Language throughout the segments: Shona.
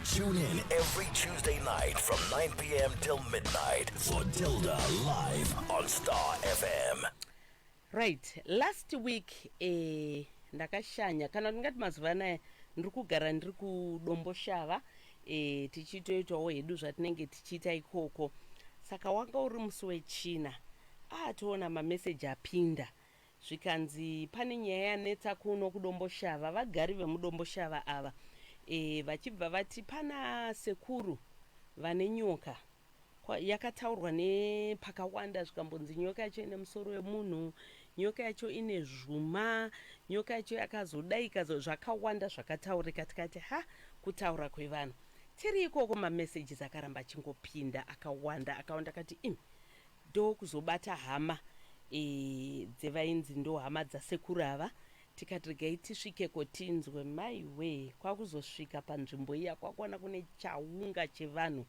Tune in every Tuesday night from 9 p.m. till midnight for Tilda live on Star FM. right last week eh, ndakashanya kana kuti ndingati mazuva anaya ndiri kugara ndiri kudomboshava eh, tichitoitawo hedu zvatinenge tichiita ikoko saka wanga uri musi wechina ah toona mameseji apinda zvikanzi pane nyaya yanetsa kuno kuDomboshava, vagari vemuDomboshava ava e, vachibva vati pana sekuru vane nyoka kwa, yakataurwa nepakawanda zvikambonzi nyoka yacho ine musoro wemunhu, nyoka yacho ine zvuma, nyoka yacho yakazodaika, zvakawanda zvakataurika tikati ha kutaura kwevanhu tiri ikoko mamessages akaramba achingopinda akawanda akawanda akati im ndokuzobata hama e, dzevainzi ndo hama dzasekuru ava tikati regai tisvikeko tinzwe maiwee kwakuzosvika panzvimbo iya kwakuona kune chaunga chevanhu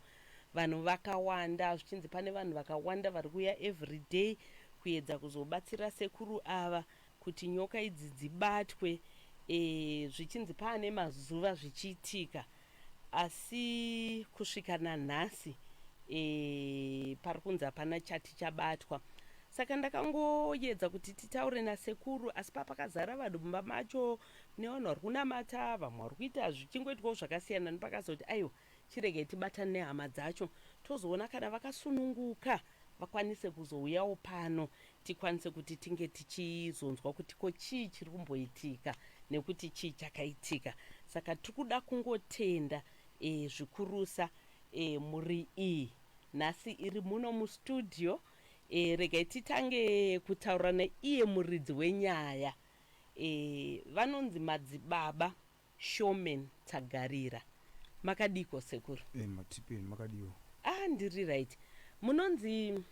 vanhu vakawanda zvichinzi pane vanhu vakawanda vari kuuya everyday kuyedza kuzobatsira sekuru ava kuti nyoka idzi dzibatwe e, zvichinzi paane mazuva zvichiitika asi kusvika nanhasi e, pari kunzi hapana chati chabatwa saka ndakangoyedza kuti titaure nasekuru asi papakazara vanhu mumba macho nevanhu vari kunamata vamwe vari kuita zvichingoitwawo zvakasiyana nepakazoti aiwa Chiregai tibatane nehama dzacho tozoona kana vakasununguka vakwanise kuzouyawo pano tikwanise kuti tinge tichizonzwa kuti ko chii chiri kumboitika nekuti chii chakaitika. Saka tiri kuda kungotenda e, zvikurusa e, mhuri iyi nhasi iri muno mustudio. E, regai titange kutaura neiye muridzi wenyaya e, vanonzi Madzibaba Showman Tsagarira. Makadiiko sekuru? Eh matipeni makadiwo. Ah ndiri right. Munonzi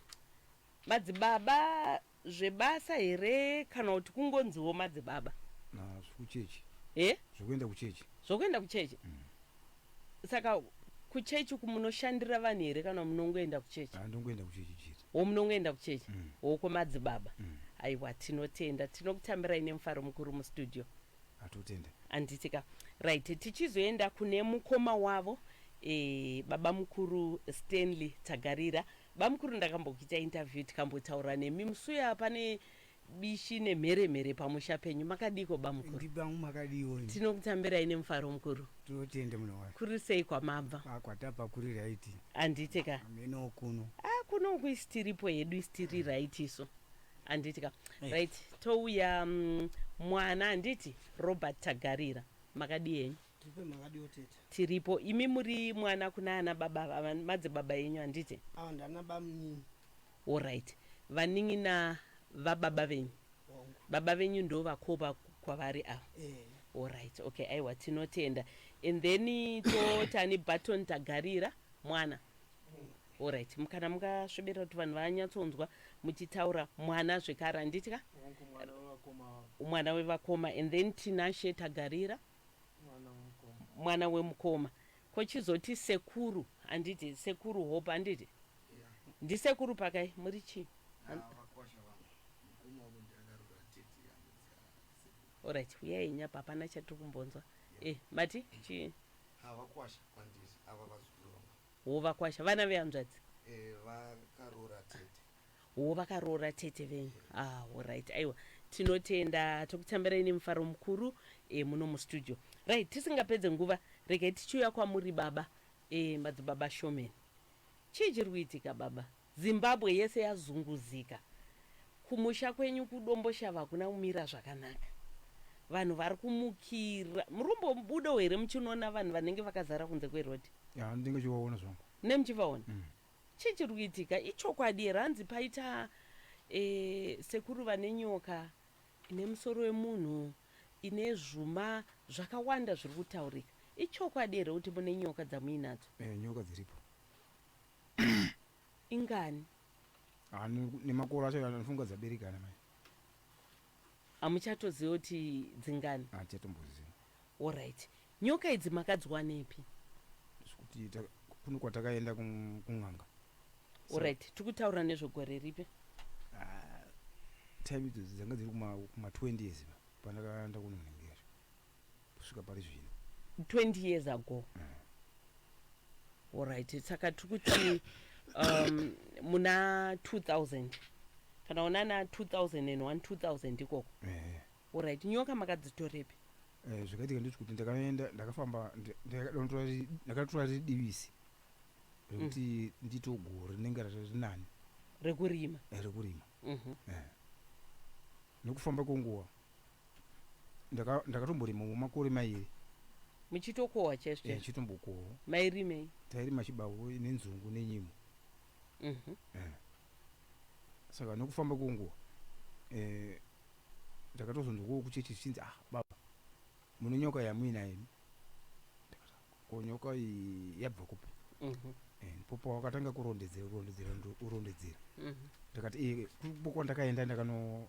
madzibaba zvebasa here kana kuti kungonziwo madzibaba? Na zvekuchechi. Eh? Zvekuenda kuchechi. Zvekuenda kuchechi. Mm. Saka kuchechi uku munoshandira vanhu here kana munongoenda kuchechi? Ah ndongoenda kuchechi chete. Wo munongoenda kuchechi? Mm. Wo kwemadzibaba. Mm. Aiwa tinotenda. Tinokutamirai nemufaro mukuru mustudio. atotenda handiti ka right tichizoenda kune mukoma wavo e, baba mukuru stanley tagarira bamukuru ndakambokuita interview tikambotaura nemi musuya pane bishi nemheremhere pamusha penyu makadiiko bamukuru ndibangu makadiwo ini tinokutambirai nemufaro mukuru tinotenda muna wake kuri sei kwamabva Ah, kwatapa kuri raiti handiti ka ameno kuno ah kuno uku isitiripo hedu isitiri right isu handiti ka hey. right touya um, mwana handiti robert tagarira makadii henyu tiripo imi muri mwana kuna ana baba madze baba yenyu handiti orit vanin'ina vababa venyu baba venyu ndo vakopa kwavari ava eh. orit okay aiwa tinotenda and then totani button tagarira mwana Alright, mukana mungasvibira kuti vanhu vanyatsonzwa muchitaura mwana zvekare handitya? Hongu mwana wevakoma ava. Mwana wevakoma and then Tinashe Tagarira Mwana wemukoma. mwana wemukoma kochizoti sekuru handiti sekuru hope handiti Yeah. ndisekuru pakai muri chii Ah, vakosha vangu. Mukoma wangu ndakarura tete yangu dzaa. Alright, uyai nyapa hapana chatiri kumbonzwa eh mati chii Havakwasha kwandiri ava vazukuru vangu. Hoo vakwasha vana vehanzvadzi. Eh vakaroora tete. Hoo vakaroora tete venyu. Ah horaiti aiwa tinotenda tokutambirai nemufaro mukuru eh muno mustudio. Right tisingapedze nguva regai tichiuya kwamuri baba eh madzibaba Showman. Chii chiri kuitika baba? Zimbabwe yese yazunguzika. Kumusha kwenyu kuDomboshava hakuna kumira zvakanaka. Vanhu vari kumukira. Muri kumbobudawo here muchinoona vanhu vanenge vakazara kunze kweroad? Ya ndinenge chivaona zvangu. Munenge muchivaona? Mm. Chii chiri kuitika? Ichokwadi here hanzi paita e, sekuru vane nyoka ine musoro wemunhu ine zvuma zvakawanda zviri kutaurika. Ichokwadi here kuti mune nyoka dzamuinadzo? Eh, nyoka dziripo. ingani ah, nemakoro acho anofunga dzaberekana mai hamuchatoziva kuti dzingani hatichatomboziva ah, orit nyoka idzi makadziwanepi kuti kune kwatakaenda kun'anga orit so, tiri kutaura nezvegore ripi ah, time idzo dzanga dziri kuma 20 years pandakaenda kunonhengera kusvika pari zvino 20 years ago mm. orit saka tiri kuti um, muna 2000 kana ona na 2001 2000 ikoko eh. orit nyoka makadzitorepi eh, zvakaitika nditi kuti ndakaenda ndakafamba ndakatora riri divisi rekuti mm. ndito goro rinenge riri nani rekurima eh, rekurima mhm. nekufamba kwenguva Ndaka ndakatomborima mumakore mairi. Muchitokohwa chaizvo Eh chaizvo. chitombokohwa. Mairimei? Tairima chibavu nenzungu nenyimo. Mhm. Eh. Saka nokufamba kwenguva eh ndakatozonzwawo kuchechi zvichinzi ah baba mune nyoka yamuinayo imi. Ndikati "Ah, ko nyoka iyi yabva kupi? Mhm. Eh ndipo pawakatanga kurondedzera kurondedzera ndo- kurondedzera. Mhm. Ndikati eh kuri kwandakaenda ndakano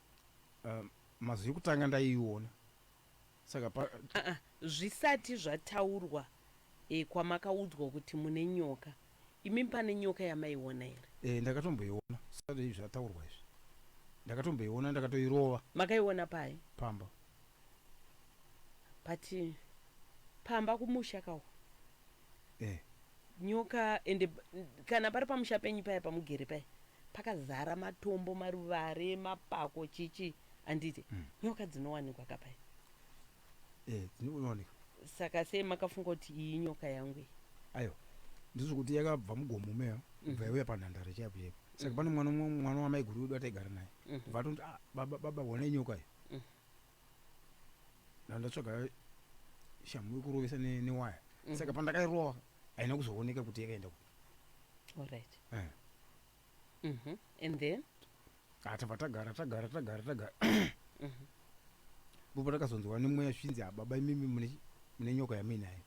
Uh, mazwi yekutanga ndaiiona saka pa... uh -uh, zvisati zvataurwa e, kwamakaudzwa kuti mune nyoka imi pane nyoka yamaiona here e, ndakatomboiona sati izvi zvataurwa izvi ndakatomboiona ndakatoirova makaiona pai pamba pati pamba kumusha kawo eh. nyoka ende kana pari pamusha penyu paya pamugere paya pakazara matombo maruvare mapako chichi anditi mm. nyoka dzinowanikwa kapaya eh, dzinowanika saka sei makafunga kuti iyi nyoka yangu iyi ayo ndizvo kuti yakabva mugomo meyo mm. bva yauya panhandare chaipo chaipo saka mm. pane mwana mwana wamaiguru wedu ataigara naye mm-hmm. vatonzi ah, baba baba wanei nyoka iyo mm. ndandatsvaga shamhu yekurovesa ne- newaya Mhm. saka pandakairova haina kuzooneka kuti yakaenda kupi Alright. Eh. Mhm. And then? Ah, tabva tagara tagara tagara tagara Mhm. ndipo takazonzwa nemweya zvinzi hababa imimi mune mune nyoka yamuinayo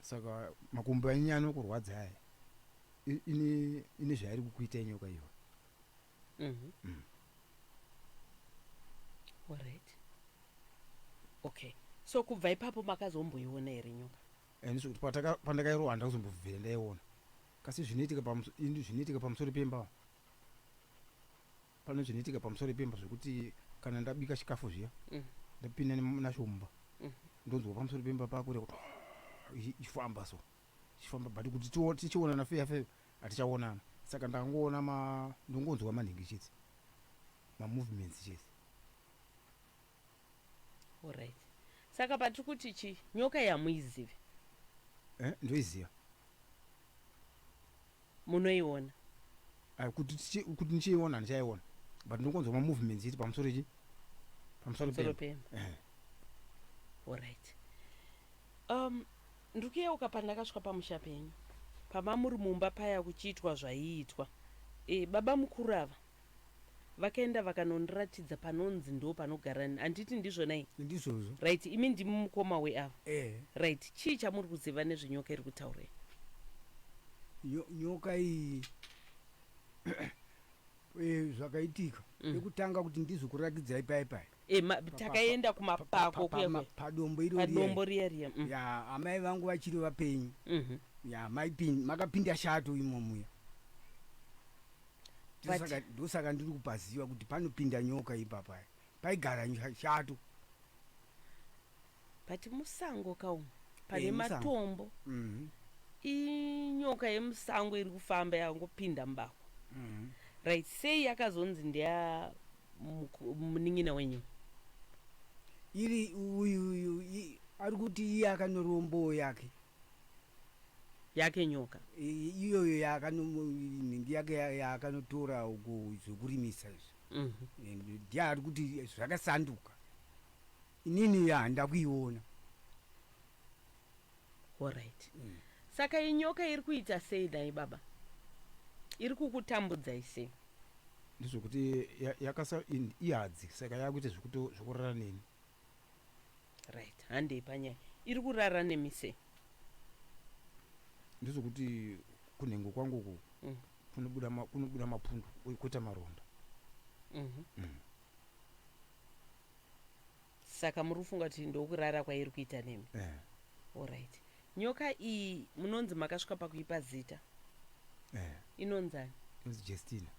saka makumbo enyu anokurwadza aya I- ine ine zvairi kukuita inyoka iyo Mhm. Mm. Alright. Okay. So kubva ipapo makazomboiona here nyoka? and so kuti pataka- pandakairohwa handina kuzombobvira ndaiona kasi zvinoitika pamuso- ini zvinoitika pamusoro pemba pane zvinoitika pamusoro pemba zvekuti kana ndabika chikafu zviya Mm. ndapinda nem- nacho mumba Mhm. ndonzwa pamusoro pemba pakure kuti ichifamba so tichifamba but kuti tichionana feya feya hatichaonana saka ndakangoona ma ndongonzwa manhingi chete mamovements chete orit saka patiri kuti chii nyoka yamuizive eh, ndoiziva munoiona ah, kuti kuti ndichiiona ndichaiona but ndongonzwa mamovements chete pamusoro chi pamusoro pema eh. orit um Ndiri kuyeuka pandakasvika pamusha penyu pama muri mumba paya kuchiitwa zvaiitwa. E, baba mukuru ava vakaenda vakanondiratidza panonzi ndoo panogara nni handiti ndizvona i? Ndizvozvo. Right, imi ndimi mukoma we ava? Ehe. Right, chii chamuri kuziva nezve nyoka iri kutaurwa iyi? Nyo, nyoka iyi Eh, zvakaitika Mm. yekutanga kuti ndizokurakidzai paye paye Eh, ma- takaenda kumapako kuya kuya. padombo iro padombo riya riya mm. ya amai vangu vachiri vapenyu Mhm. ya maipin- makapinda shato imo muya But- Ndosaka- ndosaka ndiri kupaziva kuti panopinda nyoka ipapaya paigara nyo- shato but musango ka umu pane Eh, musango. matombo Mhm. inyoka yemusango iri kufamba yakangopinda mubako Mhm. right sei yakazonzi ndeya muku- munin'ina wenyu iri uyu uyu i- ari kuti iye akanorombowo yake yake nyoka I- iyoyo yaakanomhingi yake ya- yaakanotora uko zvekurimisa izvi Mhm. And ndiye ari kuti zvakasanduka Inini yaa ndakuiona. Horaiti. Saka inyoka iri kuita sei nhai baba? Iri kukutambudzai sei? Ndezvekuti ya, yakasa in, ihadzi saka yakuita zvekuto zvekurara neni. Right, handei panyaya. Iri kurara nemi sei? Ndezvekuti kunhengo kwangu uku Mm. kunobuda ma, kunobuda mapundu uye koita maronda. Mhm. Mm. saka muri kufunga kuti ndokurara kwairi kuita nemi eh. orit nyoka iyi munonzi makasvika pakuipa zita eh. inonzani inonzi jestina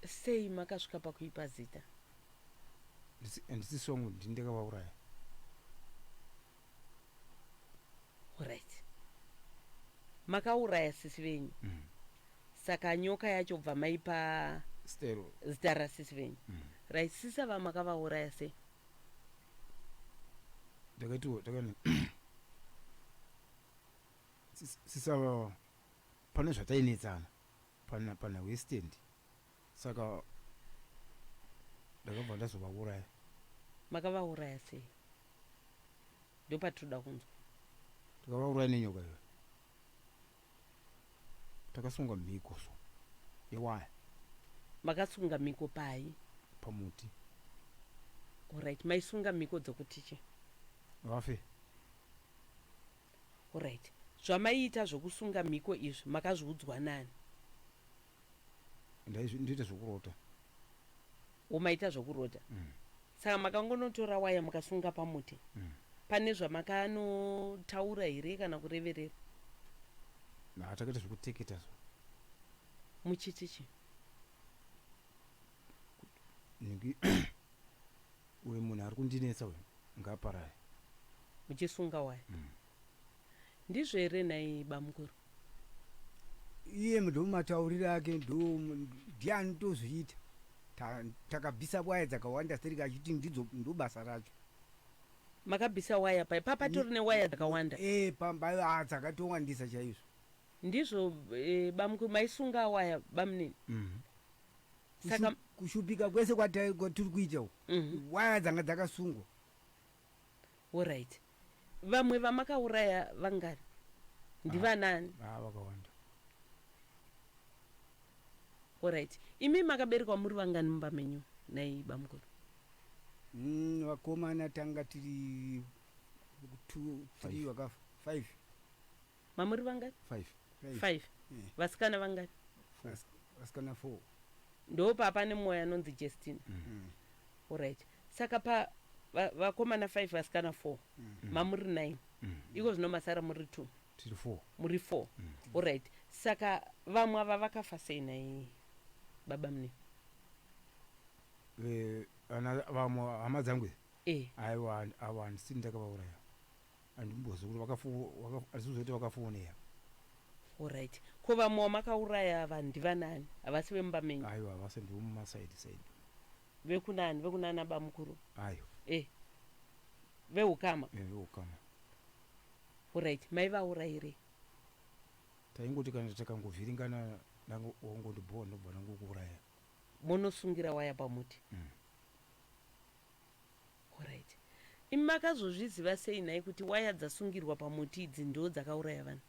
sei makasvika pakuipa zita ndisi songo ndindekavauraya Alright. Makauraya sisi venyu. Mm. Saka nyoka yacho bva maipa Stelo. zita rasisi venyu. Mm. Right sisa vamakavauraya sei? Ndakatiwo takani. Sisava pane zvatainetsana pana pana westand Saka ndakabva ndazovauraya. Makavauraya sei? Ndopatinoda kunzwa. Takavauraya nenyoka iyoyo. Takasunga mhiko so yewaya. Makasunga mhiko pai? Pamuti. Alright, maisunga mhiko dzokuti chii? Vafe. Horaiti. Zvamaiita zvokusunga mhiko izvi makazviudzwa nani? Ndaizvi, ndoita zvokurota. Wo maita zvokurota. Mm. Saka makangonotora waya mukasunga pamuti. Mm. Pane zvamakanotaura here kana kureverera? Na, takaita zvokuteketa zvo. Muchiti chi? Niki. Uyu munhu ari kundinetsa uyu ngaaparare. Muchisunga waya. Mm. Ndizvo here nhai bamukuru? Iye ndo matauriro ake ndo ndiye anotozviita. Takabvisa ta waya dzakawanda stereki achiti ndidzo ndo basa racho. Makabvisa waya pai papa tori newaya dzakawanda? E, pamba ah, dzakatowandisa chaizvo. Ndizvo e, bamukuru maisunga waya bamunini? Mm. Saka- Kushu- kushupika kwese kwata- kwatiri kuita uku Mhm. waya dzanga dzakasungwa Alright. Vamwe vamakauraya vangani? Ndivanani? Ah, vakawanda Alright. Imi makaberekwa muri vangani mumba menyu nai bamukuru? Mm, vakomana tanga tiri two three vakafa five mamuri vangani five five Eh. vasikana vangani Vas- vasikana four ndo papa nemwoyo anonzi justina Mm. orit saka pa va- vakomana five vasikana four mamuri nine iko zvino masara muri two tiri four muri four orit saka vamwe ava vakafa sei nai baba mune Eh, ana vamwe hama dzangu idzi e aiwa ava handisini ndakavauraya andimbozi kuti vakazoti vakafoneya orit ko vamwe wamakauraya ava ndivanani havasi vemumba menyu aiwa havasi ndivomumasaidi saidi vekunani vekunana bamukuru ayo e veukama e veukama orit maivaurayirei taingoti kana takangovhiringana wangondibhowa ndobva ndangokuuraya monosungira waya pamuti mm. Horait imi makazozviziva sei nhai kuti waya dzasungirwa pamuti idzi ndoo dzakauraya vanhu.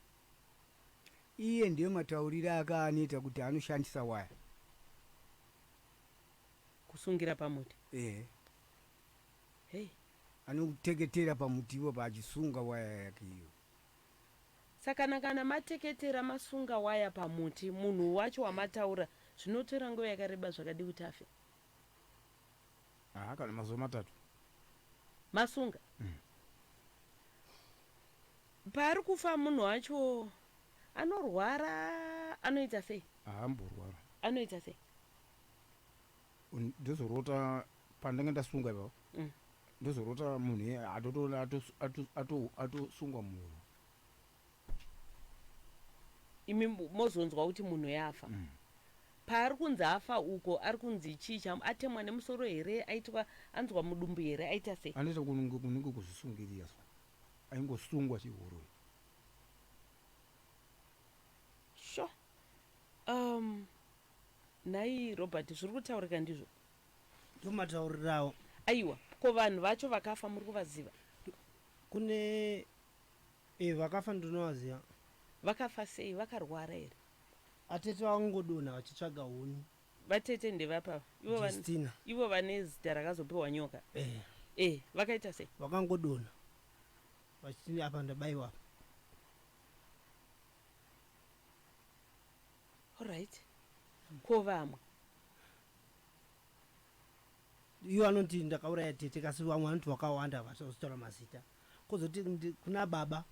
Iye ndiye mataurire ake aanoita kuti anoshandisa waya. Kusungira pamuti. Ehe. Hey. Anoteketera pamuti ipapo achisunga waya yake iyo. Sakana kana mateketera masunga waya pamuti munhu wacho wamataura zvinotora nguva yakareba zvakadii kuti afe? Haa kana mazuva matatu. Masunga. Mm. Paari kufa munhu wacho anorwara anoita sei? Haamborwara. Anoita sei? Ndozorota pandanga ndasunga ipapo. Mm. Ndozorota munhu atotoona atosungwa munhu. imi mozonzwa kuti munhu yafa mm. paari kunzi afa uko ari kunzi chii cham atemwa nemusoro here aitwa anzwa mudumbu here aita sei anoita kunenge kuzvisungirira so aingosungwa chihuroi sho sure. um nhai robert zviri kutaurika ndizvo ndomataurirawo aiwa ko vanhu vacho vakafa muri kuvaziva kune Eh vakafa ndinovaziva. Vakafa sei vakarwara here. Atete vakungodonha vachitsvaga huni. Vatete ndevapi ava? Ivo vane Justina. ivo vane zita rakazopiwa nyoka. Eh Eh, vakaita sei? vakangodonha vachiti apa ndabaiwa apa. Alright. Ko vamwe? Ivo vanoti ndakauraya tete kasi vamwe vanoti vakawanda havasi kuzotaura mazita. Kozoti kuna baba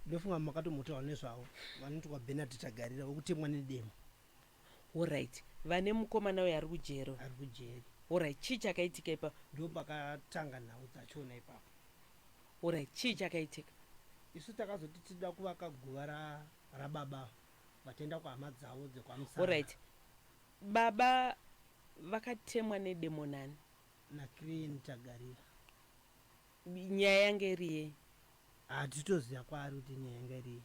ndofunga makatomotaura nezvavo vanoti kwaBenard Tagarira wekutemwa nedemo. Horaiti vane mukomana uyo ari kujeri. Ari kujeri. Horaiti chii chakaitika ipapo? Ndo pakatanga nhau dzachona ipapo. Horaiti chii chakaitika? Isu takazoti tida kuvaka guva ra, rababa vataenda kuhama dzavo dzekwamusana. Horaiti baba vakatemwa nedemo nani? NaCrane Tagarira. Nyaya yanga iri yei? Haa titoziva kwaari kuti nyaya yanga iri yei.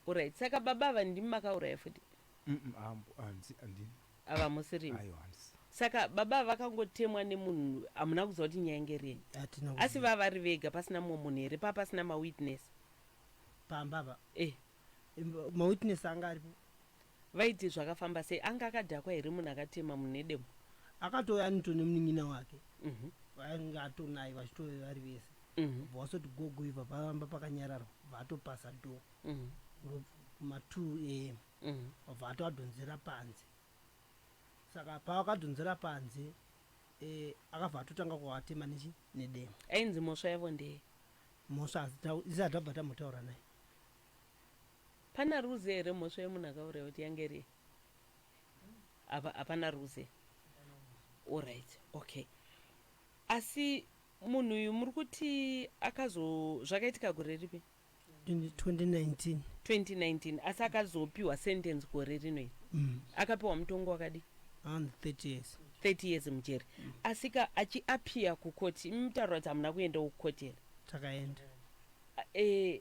Horaiti saka baba ava ndimi makauraya futi? Umm ambo hanzi handina. Ava hamusi rimwe. Aiwa handisi. Saka baba ava vakangotemwa nemunhu hamuna kuziva kuti nyaya yanga iri yei? Hatina kuziva. Asi vava vari vega pasina mumwe munhu here pava pasina mawitness? Pamba apa? Eh. mawitness anga aripo vaiti zvakafamba sei anga akadhakwa here munhu akatema munedemo akatouya anito nemunin'ina wake mhm. vainge atonaye vachitove vari vese mhm. bva wasoti gogo ibva pavamba pakanyararwa bva atopasa do mhm. matwo am bva ato adhonzera panze saka pavakadhonzera panze eh, akabva atotanga kuvatema nechi nedemo ainzi mhosva yavo ndeye mhosva isati abva tamotaura naye Pana rules here mhosva yemunhu akauraya kuti yange iri hapana rules here orit okay asi munhu uyu muri kuti akazo zvakaitika gore ripi 2019 2019 asi akazopiwa sentence gore rino iri mm. akapiwa mutongo wakadi 30 years 30 years mujeri mm. asika achiapia kukoti mutaura kuti hamuna kuendawo kukoti here takaenda Aah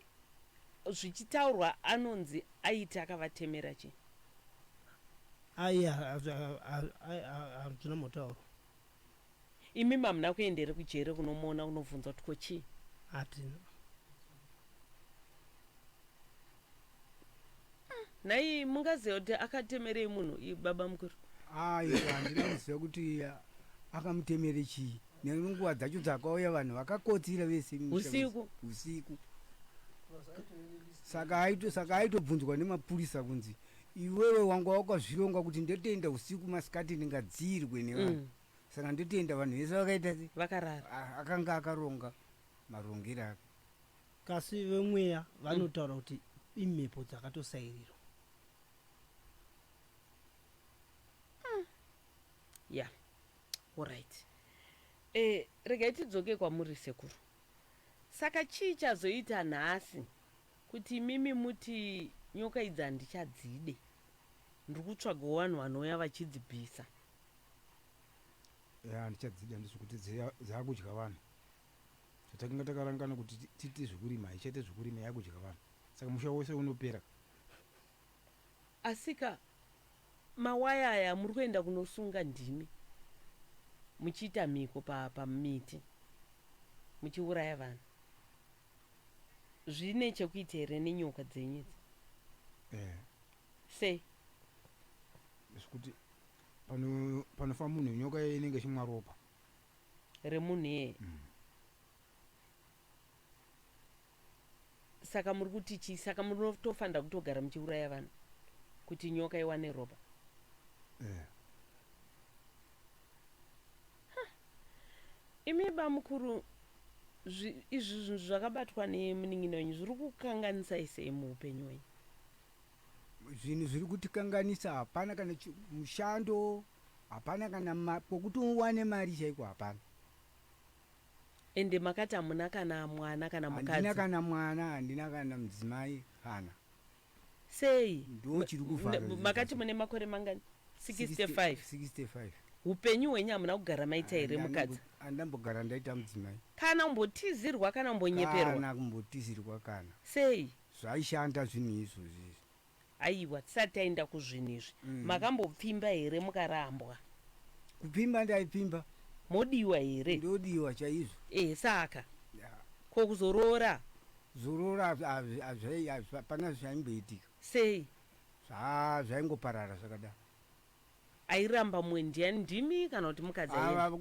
zvichitaurwa anonzi aiti akavatemera chii? Aah hazvina mutauro. Imimi hamuna kuenda here kujere kunomuona kunobvunza kuti ko chii? Hatina. nhai mungaziva kuti akatemerei munhu i- baba mukuru ayi handina kuziva kuti ah, akamutemere chii nenguva dzacho dzakauya vanhu vakakotsira vese mumusha Usiku. wese. usiku saka aito- saka aitobvunzwa nemapurisa kunzi iwewe wanga wakazvironga kuti ndotoenda usiku masikati ndingadzirwe nevanhu Mm. saka ndotoenda vanhu vese vakaita se- vakarara ah, akanga akaronga marongero ake Kasi vemweya vanotaura mm. kuti imhepo dzakatosairirwa mm. ya yeah. orit e, eh, regai tidzoke kwamuri sekuru saka chii chazoita nhasi kuti imimi muti nyoka idzi handichadzide ndiri kutsvaga vanhu vanouya vachidzibvisa handichadzide handisi kuti dzaakudya vanhu zvatakanga takarangana kuti tiite zvekurima haichaite zvekurima yakudya vanhu saka musha wose unopera asika mawaya aya amuri kuenda kunosunga ndimi muchiita mhiko pamiti pa muchiuraya vanhu zvine chekuita here nenyoka dzenyu idzi eh. sei zvekuti panofa munhu nyoka inenge chimwa ropa remunhu iyeye mm. saka muri kuti chii saka munotofanira kutogara muchiuraya vanhu kuti nyoka iwane ropa eh. imi bamukuru izvi zvinhu zvakabatwa nemunin'ina wenyu zviri kukanganisai sei muupenyu wenyu zvinhu zviri kutikanganisa hapana kana mushando Hapana kana ma, kwokuti uwane mari chaiko hapana. Ende makati hamuna kana mwana kana mukadzi. Handina kana mwana, handina kana mudzimai kana. Sei? Ndoo chiri kuvhara Mna- zvinhu makati zvacho. mune makore mangani 65 65. upenyu hwenyu hamuna kugara maita here Handina mukadzi kumbo- Handina kumbogara ndaita mudzimai. kana umbotizirwa kana umbonyeperwa Kana kumbotizirwa kana. sei Zvaishanda zvinhu izvozvi izvi. Aiwa tisati taenda kuzvinhu izvi makambopfimba here mukarambwa. Kupfimba ndaipfimba. Modiwa here? Ndodiwa chaizvo. Ehe saka Yeah. ko kuzoroora Zorora hazvi- hazvi- hazvi- hazvi- hapana zvaimboitika. sei? Zva- zvaingoparara zvakadaro. Airamba mumwe ndiani ndimi kana kuti mukadzi aienda? Ava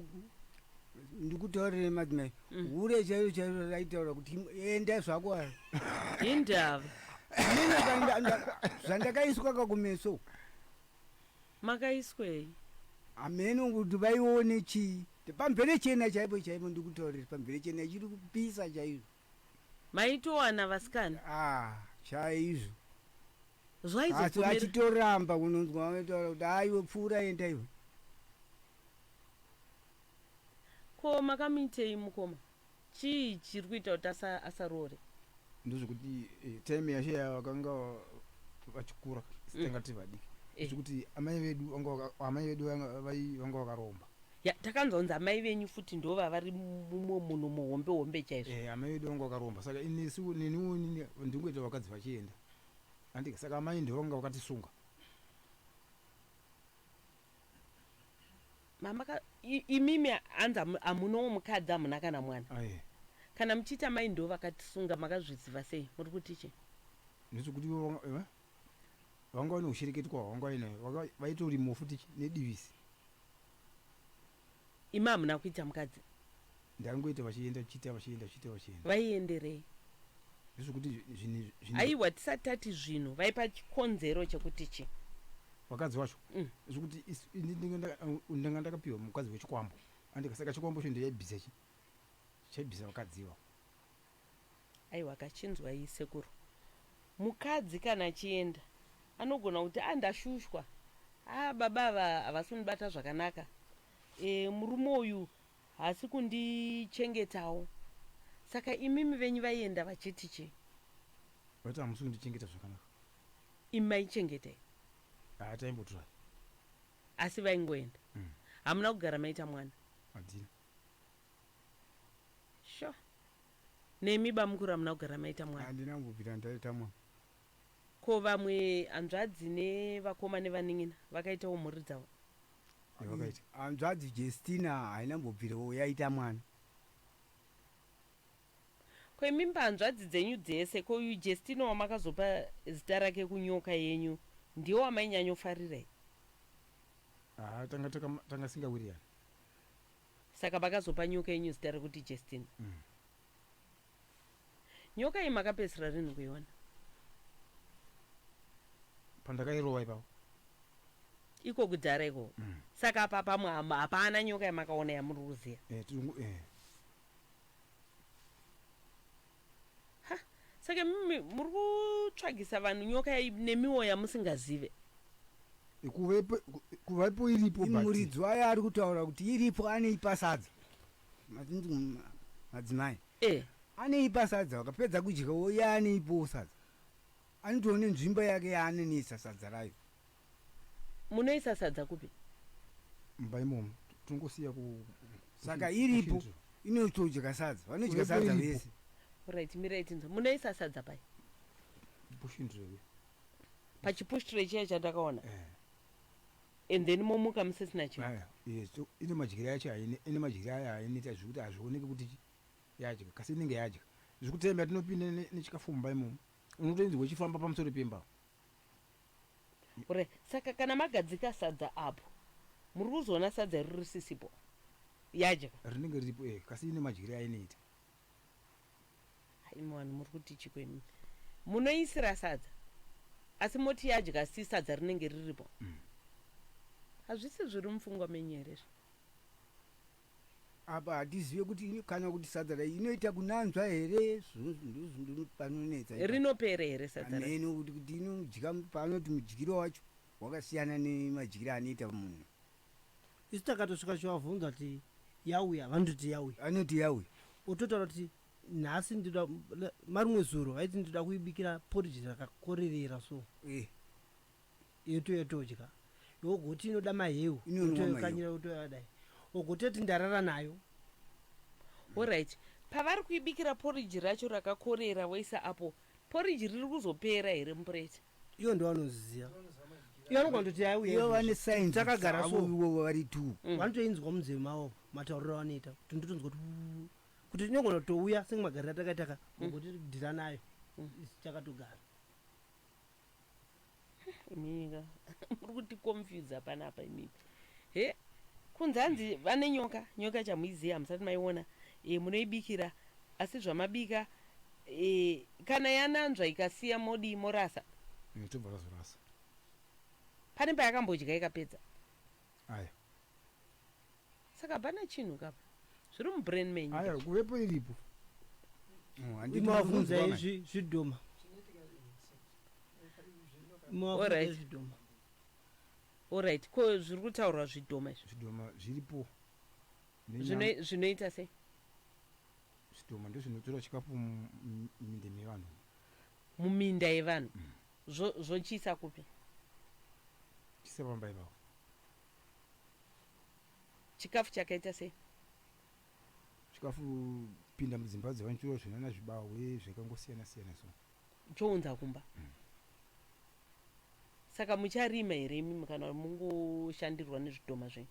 ndikutaurire madzimai. Mm. Hure chairo chairo raitaura kuti enda zvako ava. Hindava. Mina kanda nda zvandakaiswa kakumeso. Makaiswei? Ameno kuti vaione chii? Pamvere chena chaipo chaipo ndikutaurire pamvere chena chiri kupisa chairo. Maitowana vasikana? Ah, chaizvo. zvaizopomerwa achitoramba unonzwa vanotaura kuti haa iwe pfuura enda iwe ko makamuitei mukoma chii chiri kuita kuti asaroore ndozvekuti eh, time yashe yavakanga vachikura sitangati mm. vadiki eh. zvekuti amai vedu amai vedu vanga vakaromba takanzonzi amai venyu futi ndo vavari mumwe munhu muhombe hombe chaizvo eh, amai vedu vanga vakaromba saka inesiwo neniwo ndingoita vakadzi vachienda Andika saka amai ndivo vanga vakatisunga. Mama ka i- imimi hanzi hamu- hamunowo mukadzi hamuna kana mwana. Aye. Kana muchiti amai ndivo vakatisunga makazviziva sei? Muri kuti chii? Ndizvo kuti ivo vanga eh, vanga vane ushereketwa hwavanga vainayo. Vanga vaitori mufu tichi nedivisi. Imi hamuna kuita mukadzi. Ndakangoita vachienda vachiita vachienda vachiita vachienda. Vaienderei? Ndezvekuti zvinhu zvinhu. Aiwa tisati tati zvinhu vaipa chikonzero chekuti chi. Vakadzi wacho. Mm. Zvekuti ndanga ndakapiwa mukadzi wechikwambo. Andika saka chikwambo cho ndaibvisa chi. Chaibvisa vakadzi iwawo. Aiwa ka chinzwai sekuru. Mukadzi kana achienda anogona kuti ah ndashushwa ah baba ava havasi kundibata zvakanaka eh murume uyu haasi kundichengetawo saka imimi venyu vaienda vachiti chii? Vati hamusi kundichengeta zvakanaka. Imi maichengetei? Haa taimbotura. Asi vaingoenda. Hamuna kugara maita mwana? Hatina. Sho. Nemi bamukuru hamuna kugara maita mwana. Handina kumbobvira ndaita mwana. Ko vamwe hanzvadzi nevakoma nevanin'ina vakaitawo mhuri dzavo. Yavakaita. Hanzvadzi Jestina haina kumbobvirawo yaita mwana. Ko imi mhanzvadzi dzenyu dzese ko uyu Jestina wamakazopa zita rake kunyoka yenyu ndiye wamainyanyofarira here? Haa tanga tanga singawirirani. Saka pakazopa nyoka yenyu zita rekuti Jestin. Nyoka iyi makapedzisira rinhi kuiona? Pandakairova ipapo. Iko kudhara ikoko. Saka apa pamwe hama- hapana nyoka yamakaona yamuri kuziva. Eh, tiri kungo- eh. ha saka mimi muri kutsvagisa vanhu nyoka yai nemiwo yamusingazive kuve pe- ku- kuvepo iripo but- muridzi wayo ari kutaura kuti iripo aneipa sadza Mazinzi mu- madzimai eh aneipa sadza wakapedza kudya woya aneipowo sadza anotone nzvimbo yake yaanonisa sadza rayo Munoisa sadza kupi? Mumba imomo tinongosiya ku Saka iripo inotodya sadza. Vanodya sadza vese. Alright mirai tinzwe. Munoisa sadza pai? Bushindrewe. Pachipushtire chiya chandakaona. Eh. And then momuka musisina chinhu. Aya, yes, so ine madyire yacho haine, ine madyire ayo hainoita zvekuti hazvioneki kuti chi- yadya, kasi inenge yadya. Zvekuti taimbati tinopinda ne- nechikafu mumba imomo, unotoinzwa ichifamba pamusoro pemba. Ure, saka kana magadzika sadza apo muri kuzoona sadza iri risisipo yadya. Rinenge riripo eh kasi ine madyire ainoita. Imi vanhu muri kuti chiko imi. Munoisira sadza asi moti yadya asi sadza rinenge riripo. Hazvisi zviri mupfungwa menyu here izvi? Apa hatizive kuti ini kana kuti sadza rayi inoita kunanzva here ndozvindiri panonetsa ipa. Rinopere here sadza rayi. Hameno kuti kuti inodya paanoti mudyiro wacho wakasiyana nemadyiro anoita munhu. Isu takatosvika chovavhunza kuti yauya vanototi yauya. Vanoti yauya. Ototaura kuti nhasi ndoda marimwe zuro vaiti ndoda kuibikira porridge rakakorerera so. Eh. yotodya yogoti inoda maheu yotoyokanyira yotoyadai ogototi ndarara nayo orit pavari kuibikira poriji racho rakakorera voisa apo poriji riri kuzopera here mupureti iyo ndo vanoziziva iyo anogona kutoti yaiuyo vane saintakagara so ivovo vari tu mm. vanotoinzwa munzeve mavo matauriro avanoita kuti ndotonzwa kuti kuti inogona kutouya senge magariro atakaitaka mm. ogoti dhira nayo mm. chakatogara Imika muri kuti confuse panapa imika. He kunzi hanzi vane nyoka, nyoka chamuiziya hamusati maiona e, munoibikira asi zvamabika e, kana yananzva ikasiya modi morasa. Mm, tobva tazorasa. Pane payakambodya ikapedza. Aya. saka hapana chinhu kapa zviri mubrain menyu aya kuvepo iripo Oh, handiti imwe wafunza unonzwa manje. izvi zvidhoma imwe wafunza Alright. izvi zvidhoma orit ko zviri kutaurwa zvidhoma izvi zvidhoma zviripo Nenyama- Zvino- zvinoita sei zvidhoma ndozvinotora chikafu mu- mu- muminde mevanhu muminda yevanhu Zvo- zvochiisa kupi tisapamba ipapo Chikafu chakaita sei? Chikafu pinda mudzimba dzevanchuro zvinana zvibahwe zvakangosiyana siyana so. Chounza kumba. Mm. Saka mucharima here imimi kana mungoshandirwa nezvidhoma zvenyu?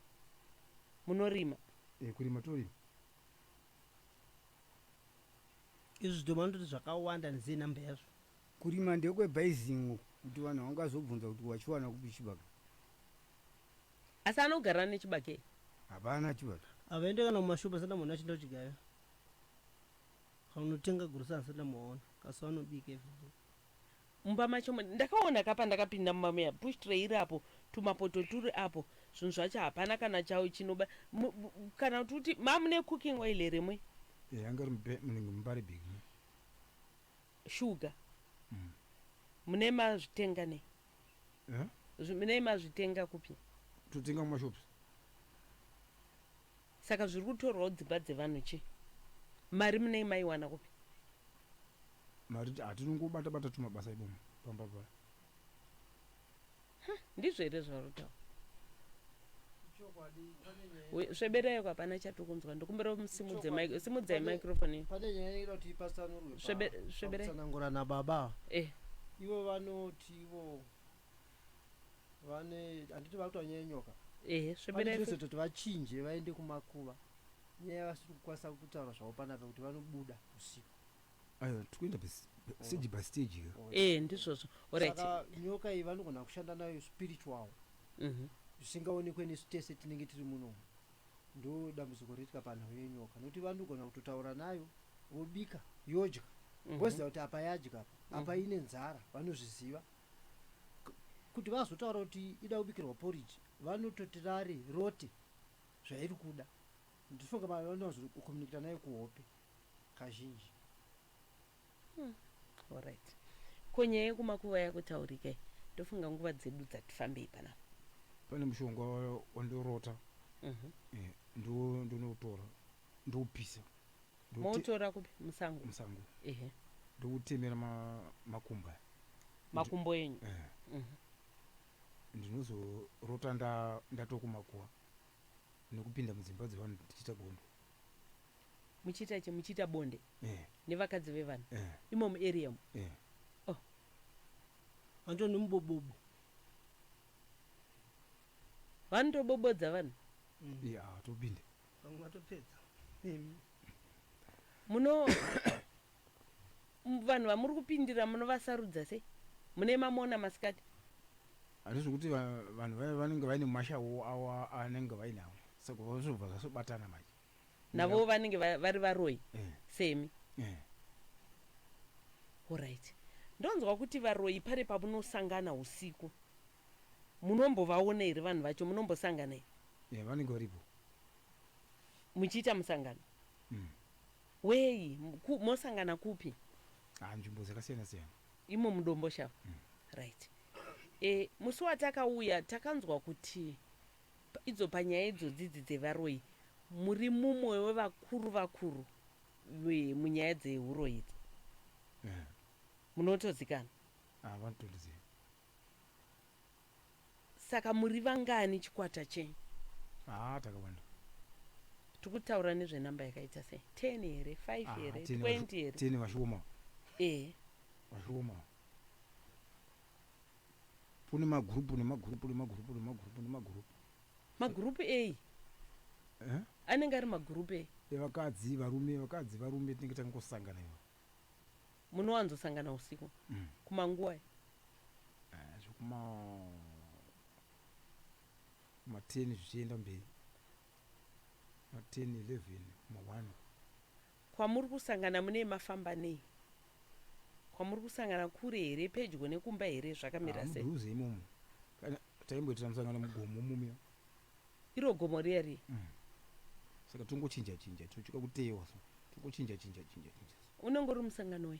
Munorima? Eh, kurima torima. Izvi zvidhoma ndoti zvakawanda nzee number yazvo. Kurima ndekwe bhayizin'o kuti vanhu vangazobvunza kuti wachiwana kupi chibage. Asi anogara ane chibage? Hapana chibage. Havaende kana kumashop asati amboona achienda kuchidya iwe. Vanotenga grocery asati amboona kasi vanobika everyday. Mumba macho mune. Ndakaona ka pandakapinda mumba muya push tray iri apo tumapoto turi apo zvinhu zvacho hapana kana chau chinoba mu, mu, kana kuti uti ma mune cooking oil here mwe? Eya ngari mube munenge mubari big. Sugar mune mazvitenga nei? Eh? Zvi- Nei mazvitenga kupi? Totenga mumashops. Saka zviri kutorwawo dzimba dzevanhu chii? Mari munei maiwana kupi? Mari hatinongobata bata tumabasa imomo pamba paya. Huh, ndizvo here zvauri kutaura? Chokwadi pane nyaya. We- Sveberaiko hapana chatiri kunzwa ndikumbira simudze Chokwadi. mic- simudzai Pane- microphone iyi. Pane nyaya inoda kuti ipatsanurwe. Svebe- pa- svebere. pakutsanangura nababa ava. Eh, Ivo vanoti ivo vane handiti vari kutoa nyaya yenyoka. ehe Pane sveberai chinoita kuti vachinje vaende kumakuva. Nyaya vasiri kukwanisa kutaura zvavo panapa kuti vanobuda usiku. Aiwa, tikuenda basi stage by stage here? Eh, ndizvozvo. Alright. Saka nyoka iyi vanogona kushanda nayo spiritual Mhm. zvisingaonekwe nesu tese tinenge tiri munomu ndo dambudziko riitika panhau yenyoka nokuti vanogona kutotaura nayo vobika yodya Mhm. voziva kuti apa yadya apa apa ine nzara vanozviziva K- kuti vazotaura kuti ida kubikirwa porridge vanototi rari rote zvairi kuda ndifunga vanowanzokomunikita nayo kuhope kazhinji. Umm horait ko nyaya yekumakuva yakutaurika iyi ndofunga nguva dzedu dzati fambei panapa. Pane mushonga wandorota eh, ndiwo ndonoutora ndoupisa Moutora kupi? Musango. musango Ehe. ndoutemera ma- makumbo aya Makumbo enyu. Eh, ndinozorota nda- ndatokumakuva nekupinda mudzimba dzevanhu ndichiita gondo muchiita che muchiita bonde eh. nevakadzi vevanhu eh. imo muarea mu eh. oh. vanto nemubobobo vanotobobodza vanhu mm. yeah, topinde vamwe vatopedza muno vanhu vamuri kupindira munovasarudza sei mune mamona masikati handizvi kuti vanhu vaya vanenge vaine mashawo awo anenge vainawo saka vazvobva zvasobatana manje navo vanenge vari varoyi eh. semi eh. orit ndonzwa kuti varoyi pare pamunosangana usiku munombovaona here vanhu vacho munombosangana here eh, vanenge varipo muchiita musangano hmm. Weyi? Ku, mosangana kupi? Ah, nzvimbo dzakasiyana siyana. Imo muDomboshava? Mm. Right. E, musi watakauya takanzwa kuti pa, idzo panyaya idzodzi idzi dzevaroyi muri mumwe wevakuru vakuru ve, munyaya dzehuroyi idzi. Yeah. Munotozikana? Ah, vanotondiziva. Saka muri vangani chikwata chenyu? Haa takawanda. Tiri kutaura nezvenumber yakaita sei? 10 here? 5 Haa here? 10 vashu- 20 here? 10 vashuoma Eh. vashuoma. Kune magurupu nemagurupu nemagurupu nemagurupu nemagurupu Magurupu eyi? Eh? Anenge ari magurupu eyi? evakadzi varume vakadzi varume tinenge tangosangana ivo. Munowanzosangana usiku kumanguvai? Ah, zvekuma kuma 10 zvichienda mberi ma 10 11 ma 1 Kwamuri kusangana munei mafamba nei? Kwamuri kusangana kure here pedyo nekumba here zvakamira sei? mudhuze imomo kana taimboitira musangano mugomo mumiya Iro gomo riya riya. Mm. Saka tongochinja chinja tochika kuteyewa so. Tongochinja chinja chinja chinja. Unenge uri musangano we.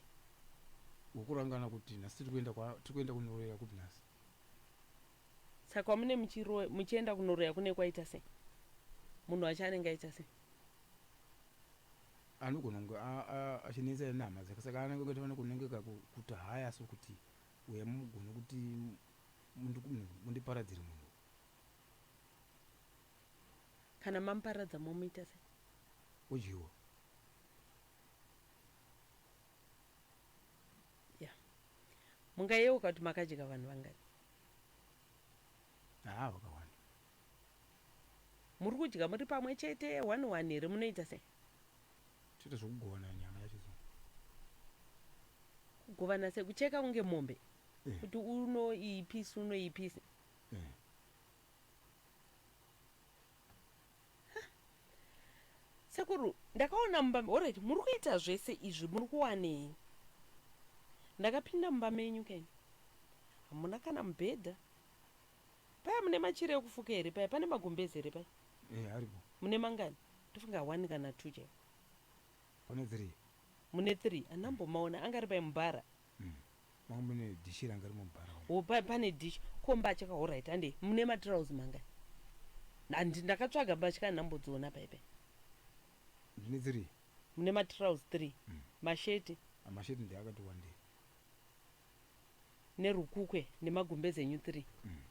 Wokurangana kuti nhasi tiri kuenda kwa tiri kuenda kunoroya kupi nhasi. Saka wamune muchiro muchienda kunoroya kune kwaita sei? Munhu wacho anenge aita sei? Anogona kunge achinetsa inhama dzake saka anenge kutofana kunenge kakuta haya so kuti uya mugone kuti mundiparadzire munhu kana mamuparadza momuita sei udyiwa ya mungayeuka kuti makadya vanhu vangani haa vakawanda muri kudya muri pamwe chete one one here munoita sei toita zvekugovana nyama yacho so kugovana sei kucheka kunge mombe Eh. kuti unoipisi unoipisi sekuru ndakaona mumba alright muri kuita zvese izvi muri kuwanei ndakapinda mumba menyu keni hamuna kana mubhedha paya mune machira ekufuka here paya pane magumbezi here paya eh, aripo mune mangani ndofunga one kana two chaivo pane three mune three anambomaona angari paya mubhara mm. Manga mune dish ranga rimo mubhara umu. Oh, pa, pane dish. Ko mbatya ka alright hande mune matrouse manga. Handi ndakatsvaga mbatya ndambodziona pa ipe. Ndine dziri. Mune matrouse 3. Mm. Masheti. Ah, masheti ndi akati wande. Nerukukwe nemagumbeze enyu 3. Mm.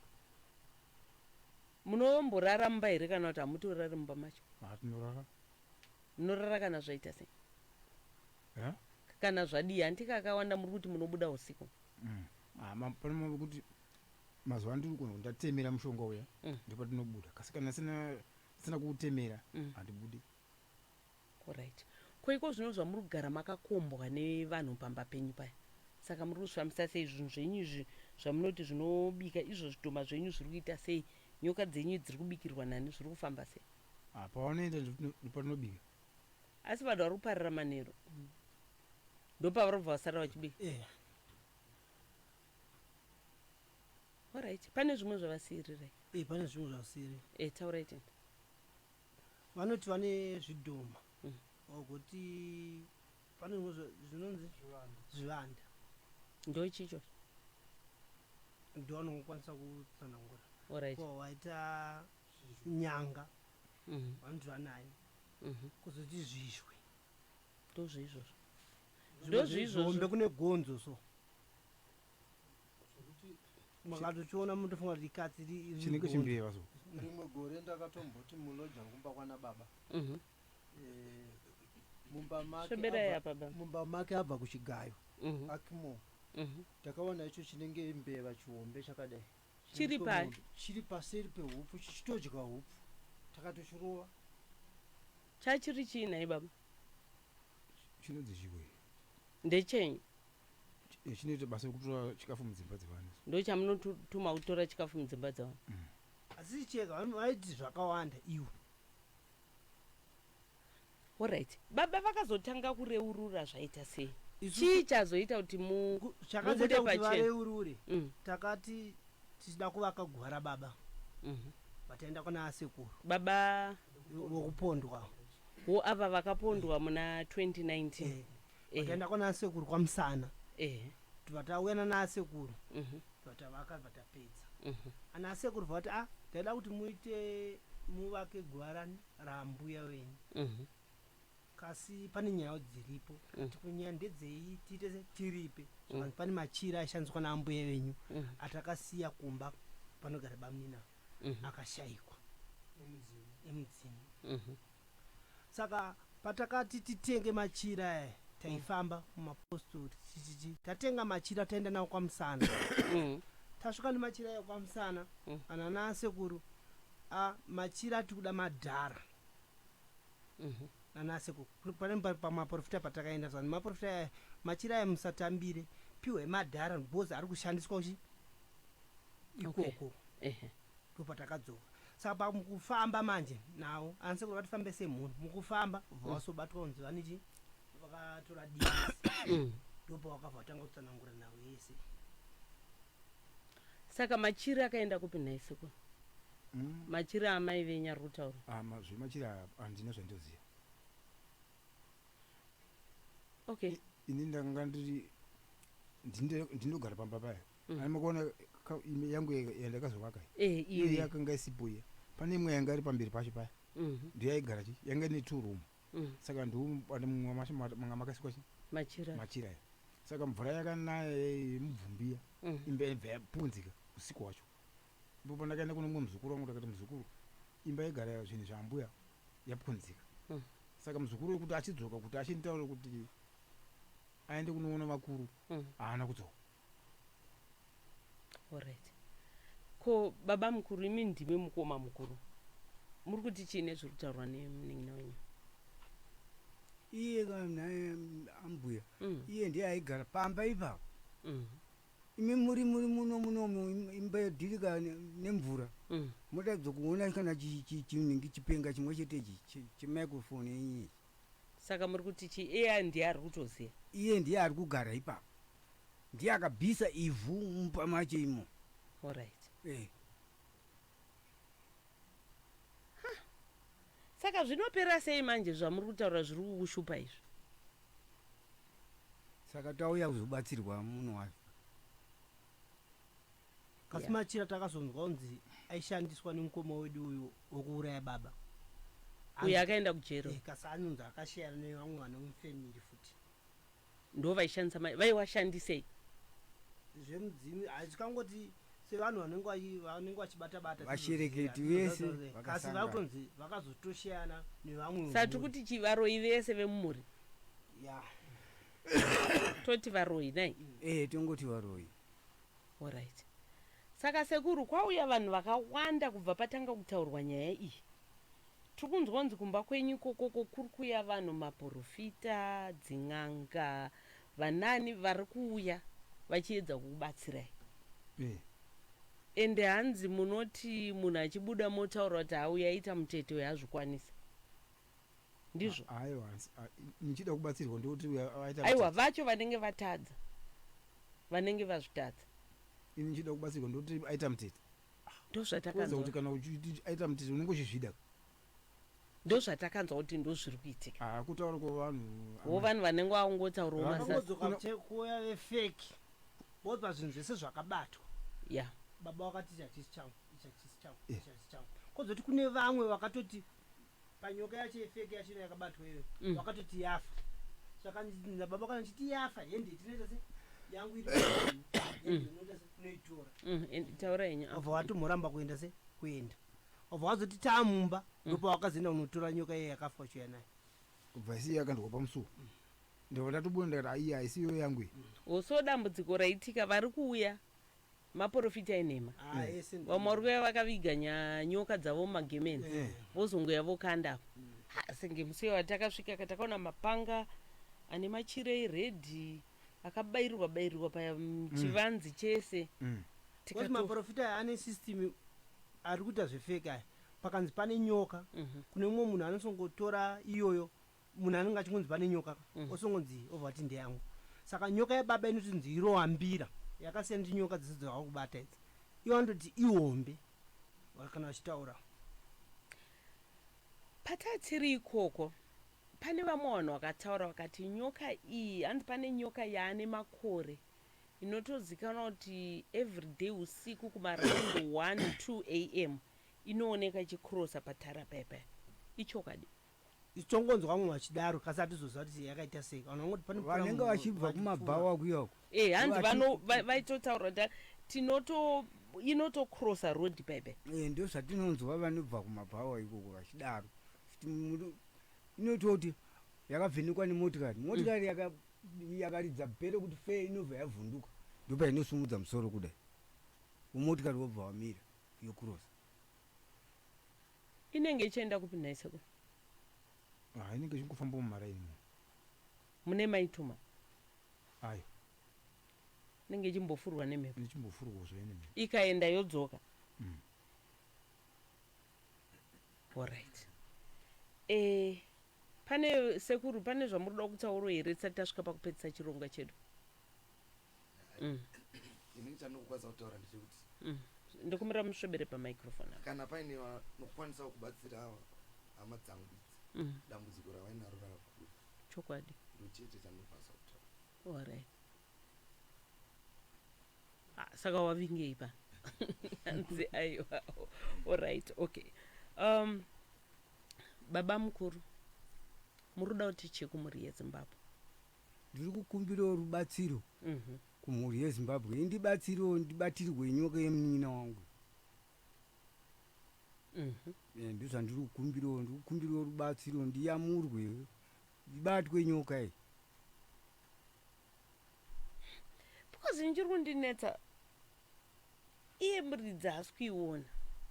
Munomborara mumba here kana kuti hamutorari mumba macho? Ah, tinorara. Munorara kana zvaita sei? Huh? kana zvadii hanti kakawanda muri kuti munobuda usiku Mm. Ah, ma- pane mambo kuti mazuva ano tiri kuona kuti ndatemera mushonga uya Mm. ndipo tinobuda kasi kana sina sina kuutemera Mm. handibudi orit ko iko zvino zvamuri kugara makakombwa nevanhu pamba penyu paya saka muri kuzvifambisa sei zvinhu zvenyu izvi zvamunoti zvinobika izvo zvidhoma zvenyu zviri kuita sei nyoka dzenyu dziri kubikirwa nani zviri kufamba sei Ah, paunoenda ndipo ndipo tinobika Asi vanhu vari kuparira manheru ndopavarobva vasara vachibika eya orit pane zvimwe zvavasiirirai e, pane zvimwe zvavasiri e, taurai tini vanoti vane zvidhoma Mm. wagoti pane zvimwe zva- zvinonzi zvivanda ndochicho ndowanokwanisa kutsanangura orit ko waita nyanga vanoti vanayo kuzoti zvizhwe ndozviizvozvo ndozviizvozvo kune gonzo so makatochiona mutofunga kuti ikatsi chinenge chimbeva so rimwe gore ndakatomboti muloja ngumba kwana baba mhm. eh, mumba make abva kuchigayo mhm. akimo mhm. takaona icho chinenge mbeva chihombe chakadai chiri pai chiri paseri pehupfu chichitodya hupfu takatochirova chachiri chii nhai baba chinonzi chikwe ndechenyu eh, chinoita basa rekutora chikafu mudzimba dzevanhu ndo chamunotuma kutora chikafu mudzimba dzevanhu mm. asi cheka vaiti zvakawanda iwe Alright. Baba vakazotanga kureurura zvaita sei? Isu- Chii chazoita kuti mu Ku- mubude chakazoita kuti pachena? vareurure Mm, takati tichida kuvaka guva rababa mhm. vataenda kuna asekuru Baba vokupondwa wo ava vakapondwa muna 2019. Eh, Eh, vataenda kuna asekuru kwamusana eh, vatauya nana asekuru mhm, vatavaka vatapedza mhm. ana asekuru vati a taida kuti muite muvake guva rani rambuya venyu Mhm. kasi pane nyaya dziripo Mm. kuti kunyaya ndedzei tiite se- tiripe zvakanzi pane machira aishandiswa naambuya venyu Mhm. atakasiya kumba panogara bamunina Mhm. akashaikwa emudzimu Mhm. saka patakati titenge machira aya taifamba mumapostori tichiti tatenga machira taenda nawo kwamusana Mhm. tasvika nemachira aya kwamusana Mm. ana nasekuru Ah machira tikuda madhara Mhm. nanasekuru Kuri- pane pa- pamaporofita patakaenda zvanzi maporofita aya machira aya musatambire piwe madhara because ari kushandiswa uchi Okay. ikoko Ehe. ndopatakadzoka saka pakufamba manje nawo anasekuru vatifambe semhuri mukufamba vobva vasobatwa kunzi vanichi vakatora disi Mm. ndopavakabva vatanga kutsanangura nhau yese Saka machiri akaenda kupi nhai sekuru? Mm. Machiri amai venyu ari kutaura. Ah, ma, zvemachiri handina zvandoziva. Okay. Ini ndanga ndiri ndinogara pamba paya. Mm. Ani makuona yangu yandakazovaka. Eh, iyo yakanga isipo iya. Pane imwe yanga iri pamberi pacho paya. Mm -hmm. Ndiyo yaigara chi? Yanga ine two room. Mm. Mm. saka ndiuane mumwe masha ma- manga makasikwa chi Machira. machira iya saka mvura yakanaya yemubvumbiya Mm. imba yaibva yapunzika usiku hwacho ipo pandakaenda kune mumwe muzukuru wangu ndakati muzukuru imba yegara zvinhu zvaambuya yapunzika Mm. saka muzukuru wekuti achidzoka kuti achinditaura kuti aende kunoona vakuru Mm. haana kudzoka Alright. Ko baba mukuru imi ndimi mukoma mukuru. Muri kuti chii nezviri kutaurwa nemunin'ina wenyu? iye ka- naye am- ambuya Mm. iye ndiye aigara pamba ipapo Mm. imi muri muri muno munomu im- imba yodhirika ne- nemvura Mm. motadza kuona kana chi- chi- chinenge chipenga chimwe chete ichi che- chemicrophone yenyu ichi Saka muri kuti chi AI ndiye ari kutoziva? Iye ndiye ari kugara ipapo. Ndiye akabvisa ivhu mumba macho imo. Alright. Eh. Huh. Saka zvinopera sei manje zvamuri kutaura zviri kukushupa izvi? Saka tauya kuzobatsirwa munhu wacho. Kasi yeah. Machira takazonzwa unzi aishandiswa nemukoma wedu uyu wekuuraya baba uyu akaenda kujero eh, kasi anonzi akasheyana nevamwe vana mufamily futi ndo vaishandisa mai vaiwashandisei zvemudzimu hazvikangoti sevanhu vanenge vanenge vachibata bata vashereketi vese kasi vakutonzi vakazotosheyana nevamwe sa tiri kuti chivaroyi vese vemumhuri ya toti varoyi nai mm. eh tongoti varoyi Horaiti saka sekuru kwauya vanhu vakawanda kubva patanga kutaurwa nyaya iyi. Tiri kunzwa kunzi kumba kwenyu ikoko uko kuri kuuya vanhu maporofita, dzin'anga, vanaani vari kuuya vachiedza kukubatsirai. Ehe. Ende hanzi munoti munhu achibuda motaura kuti auya aita mutete uyu azvikwanise. ndizvo aiwa muchida kubatsirwa ndoti aita aiwa vacho vanenge vatadza vanenge vazvitadza ini muchida kubatsirwa ndoti aita mutete ndozvatakanzwa kuti kana uchiti aita mutete unenge uchizvida ndozvatakanzwa kuti ndozviri kuitika ah, kutaura kovanhu wo vanhu vanenge vaungotaurawo masakuuya vefeki vopa zvinhu zvese zvakabatwa ya baba wakati ichachisi changu ichachisi changu kozoti kune vamwe vakatoti panyoka yacho yefeke yacho ino yakabatwa iyoyo Mm. wakatoti yafa saka baba kana chiti yafa hende tinoita se yangu iri hende unoita se unoitora Mm, and- taura henyu apa. obva watomuramba kuenda se kuenda obva wazoti taamumba ndopa wakazoenda unotora nyoka iye yakafa uchiuya nayo kubva isiyo yakandwa pamusuwo ndobva ndatobona ndikati aiyi haisiyo yangu iyi Oh, so dambudziko raitika vari kuuya maporofita enhema Ah, eh, send- vamwe vari kuya vakaviga nya- nyoka dzavo mumagemeni Eh. vozongoya vokanda apo Ah, senge musi iwa takasvika ka takaona mapanga ane machira eredhi akabairirwa bairirwa paya mm, chivanzi chese Mm. Because Tikato- maporofita aya ane system ari kuita zvefeki aya pakanzi pane nyoka Mhm. kune mumwe munhu anosongotora iyoyo munhu anenge achingonzi pane nyoka apa mm. osongonzi obva ati ndeyangu saka nyoka yababa inotinzi iroambira yakasiyana ndi nyoka dzese dzava kubata idzi iwo anototi ihombe kana vachitaura patatiri ikoko pane vamwe vanhu vakataura vakati nyoka iyi anzi pane nyoka yaane makore inotozikanwa kuti everyday usiku kumaraund 1 2 a m inooneka ichikrosa patara pepe ichokwadi Tichongonzwa mumwe achidaro kasi hatizoziva kuti yakaita sei kana unongoti pane mvura vanenge vachibva kumabhawa kuya uko Eh, hanzi Vati- vano va- vaitotaura kuti tinoto inotocrossa road bebe Eh, ndo zvatinonzwa vanobva kumabhawa ikoko vachidaro Kuti muri- inototi yakavhenekwa nemotikari motikari yaka- yakaridza bhero kuti fe inobva yavhunduka ndopainosumudza musoro kudai umotikari wobva wamira yokurosa Inenge ichienda kupi nhai sekuru? Ah, inenge ichingofamba mumaraini mo. Mune maituma? Ayo. Inenge ichimbofurwa nemhepo. Ichimbofurwa zvayo nemhepo. Ikaenda yodzoka. Mm. All right. Eh, pane sekuru pane zvamuri kuda kutauro here tisati tasvika pakupedzisa chirongwa chedu? mm. ini chandinokwanisa kutaura ndechekuti mm. ndikumira musvebere pamicrofone kana paine vanokwanisawo kubatsira ava hama dzangu idzi mm. dambudziko ravainaro rakakura chokwadi ndochete chandinokwanisa kutaura ory ah, saka wavingei pa anzi aiwa orit okay um, baba mukuru muri kuda kuti chekumuri yezimbabwe Ndiri kukumbirawo rubatsiro kumhuri yeZimbabwe indibatsirewo ndibatirwe nyoka yemunin'ina wangu. Eh, ndozvandiri kukumbirawo ndiri kukumbirawo rubatsiro ndiyamurwe ndibatwe nyoka iyi. Because ini chiri kundinetsa iye muridzi haasi kuiona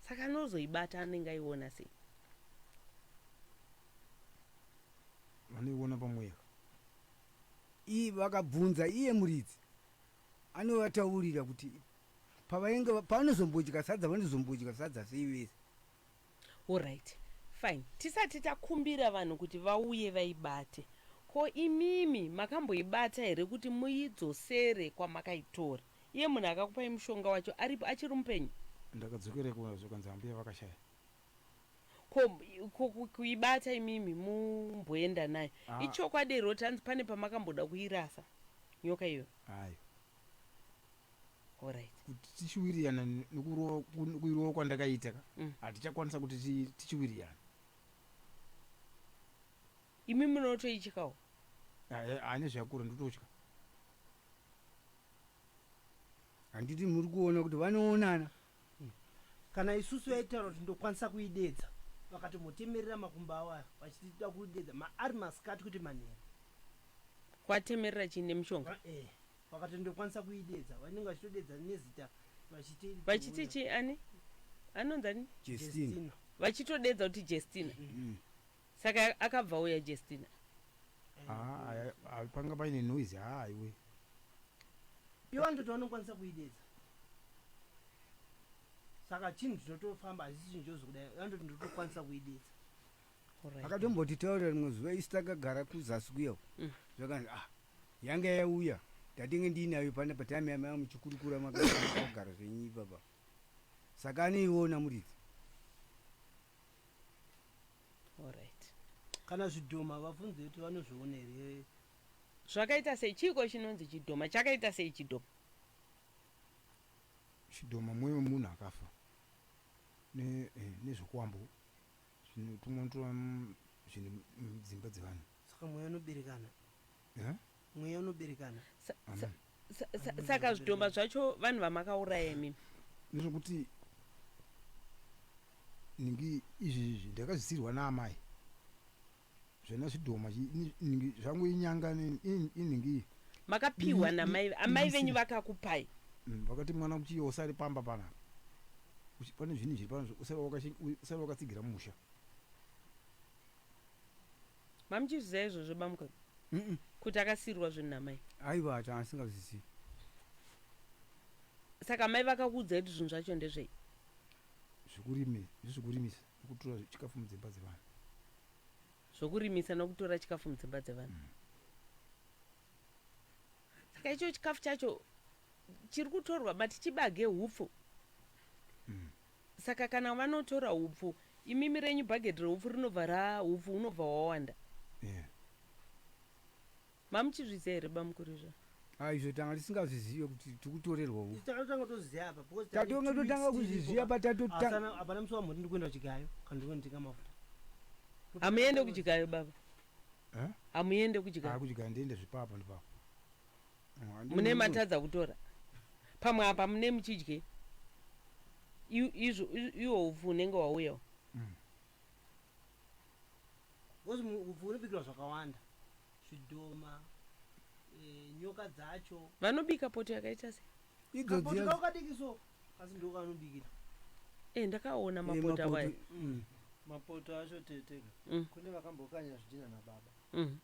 saka anozoibata anenge aiona sei vanoiona pamweya iyi vakabvunza iye muridzi anovataurira kuti pavainge paanozombodya sadza vanozombodya sadza sei vese Horyt fine tisati takumbira vanhu kuti vauye vaibate ko imimi makamboibata here kuti muidzosere kwamakaitora iye munhu akakupai mushonga wacho aripo achiri mupenyu. Ndakadzokera ikoko zvikanzi ambuya vakashaya. Ko ko kuibata imimi mumboenda nayo Haa. ichokwadi hre kuti hanzi pane pamakamboda kuirasa nyoka iyoyo. Hayo. kuti tichiwirirana nekuirova kwandakaita ka mm. hatichakwanisa kuti tichiwirirana imi munotoichikawo ane zvakura ndototya handiti muri kuona kuti vanoonana mm. kana isusu yaitaura kuti ndokwanisa kuidedza vakatomotemerera makumba awaya vachitida kuidedza maari masikati kuti manheru kwatemerera chii nemushonga eh. vakatondokwanisa kuideedza vanenge vachitodeedza nezita vachiti vachiti chi ani anonzi ani Jestina. Jestina. vachitodeedza kuti jestina Mm. saka akabva auya jestina Ah, aya- ah, panga paine noise haa iwe ivo vanototi vanokwanisa kuideedza saka chinhu chinotofamba hazisi chinhu chozokudai vanototi ndotokwanisa kuideedza Alright. akatombotitaurira rimwe zuva isi takagara kuzasi kuya uko. Mm. zvakanzi ah Yanga yauya ndatenge ndiinayo pana patime yamanga muchikurukura makagara zvenyu ipapa saka anoiona muridzi Alright. kana zvidhoma vabvunze kuti vanozviona here Zvakaita sei chiiko chinonzi chidhoma chakaita sei chidhoma. Chidhoma mweya wemunhu akafa ne eh, nezvokwambo zvinotumwa tumwa zvinhu mudzimba dzevanhu. Saka mweya unoberekana. Eh? Mweya unoberekana. Sa- sa- Amen. sa- sa- Amen. saka zvidhoma zvacho vanhu vamakauraya imimi Ndezvokuti ningi izvi izvi ndakazisirwa naamai. Zvana zvidhoma chi- ni- ningi zvangu inyanga ni- in- iningi makapiwa Ni- ni- namai amai ni- venyu si- vakakupai Mm, vakati mwana kuchiyo usari pamba panapa Uchi- pane zvinhu zviri pano zvo- usari wakashi- u- usari wakatsigira musha Mamuchizviziva izvozvo bamukuru mm. kuti akasiirwa zvinhu namai? Aiwa ati asingazvizivi. Saka mai vakakuudzai kuti zvinhu zvacho ndezvei? Zvekurimi, zvekurimisa nokutora chikafu mudzimba dzevanhu. Zvokurimisa nokutora chikafu mudzimba dzevanhu. Mm. Saka icho chikafu chacho chiri kutorwa mati chibage hupfu. Mm. Saka kana vanotora hupfu imimi renyu bhagedhi rehupfu rinobva ra hupfu hunobva hwawanda. Yeah. Mamuchizviziva here bamukuru izvo? Ah, izvo tanga tisingazvizive kuti tikutorerwa hupfu. Takatanga toziva apa because tatonga totanga kuzviziva patatotanga. Hapana musi wamhoti ndikuenda kuchigayo kana ndikunotenga mafuta. Hamuende kuchigayo baba? Eh? Hamuende kuchigayo? Ah, kuchigayo ndiende zvipapa ndipapa. mune matadza kutora pamwe apa mune muchidye izvo iwo upfu unenge wauyawo mm. bcause upfu unobikirwa zvakawanda zvidhoma eh, nyoka dzacho vanobika poto yakaita se idzodikadikiso asi ndoko anobikira e ndakaona eh, mapoto awayo mm. mapoto acho teteka mm. kune vakambokanya zvidhina nababa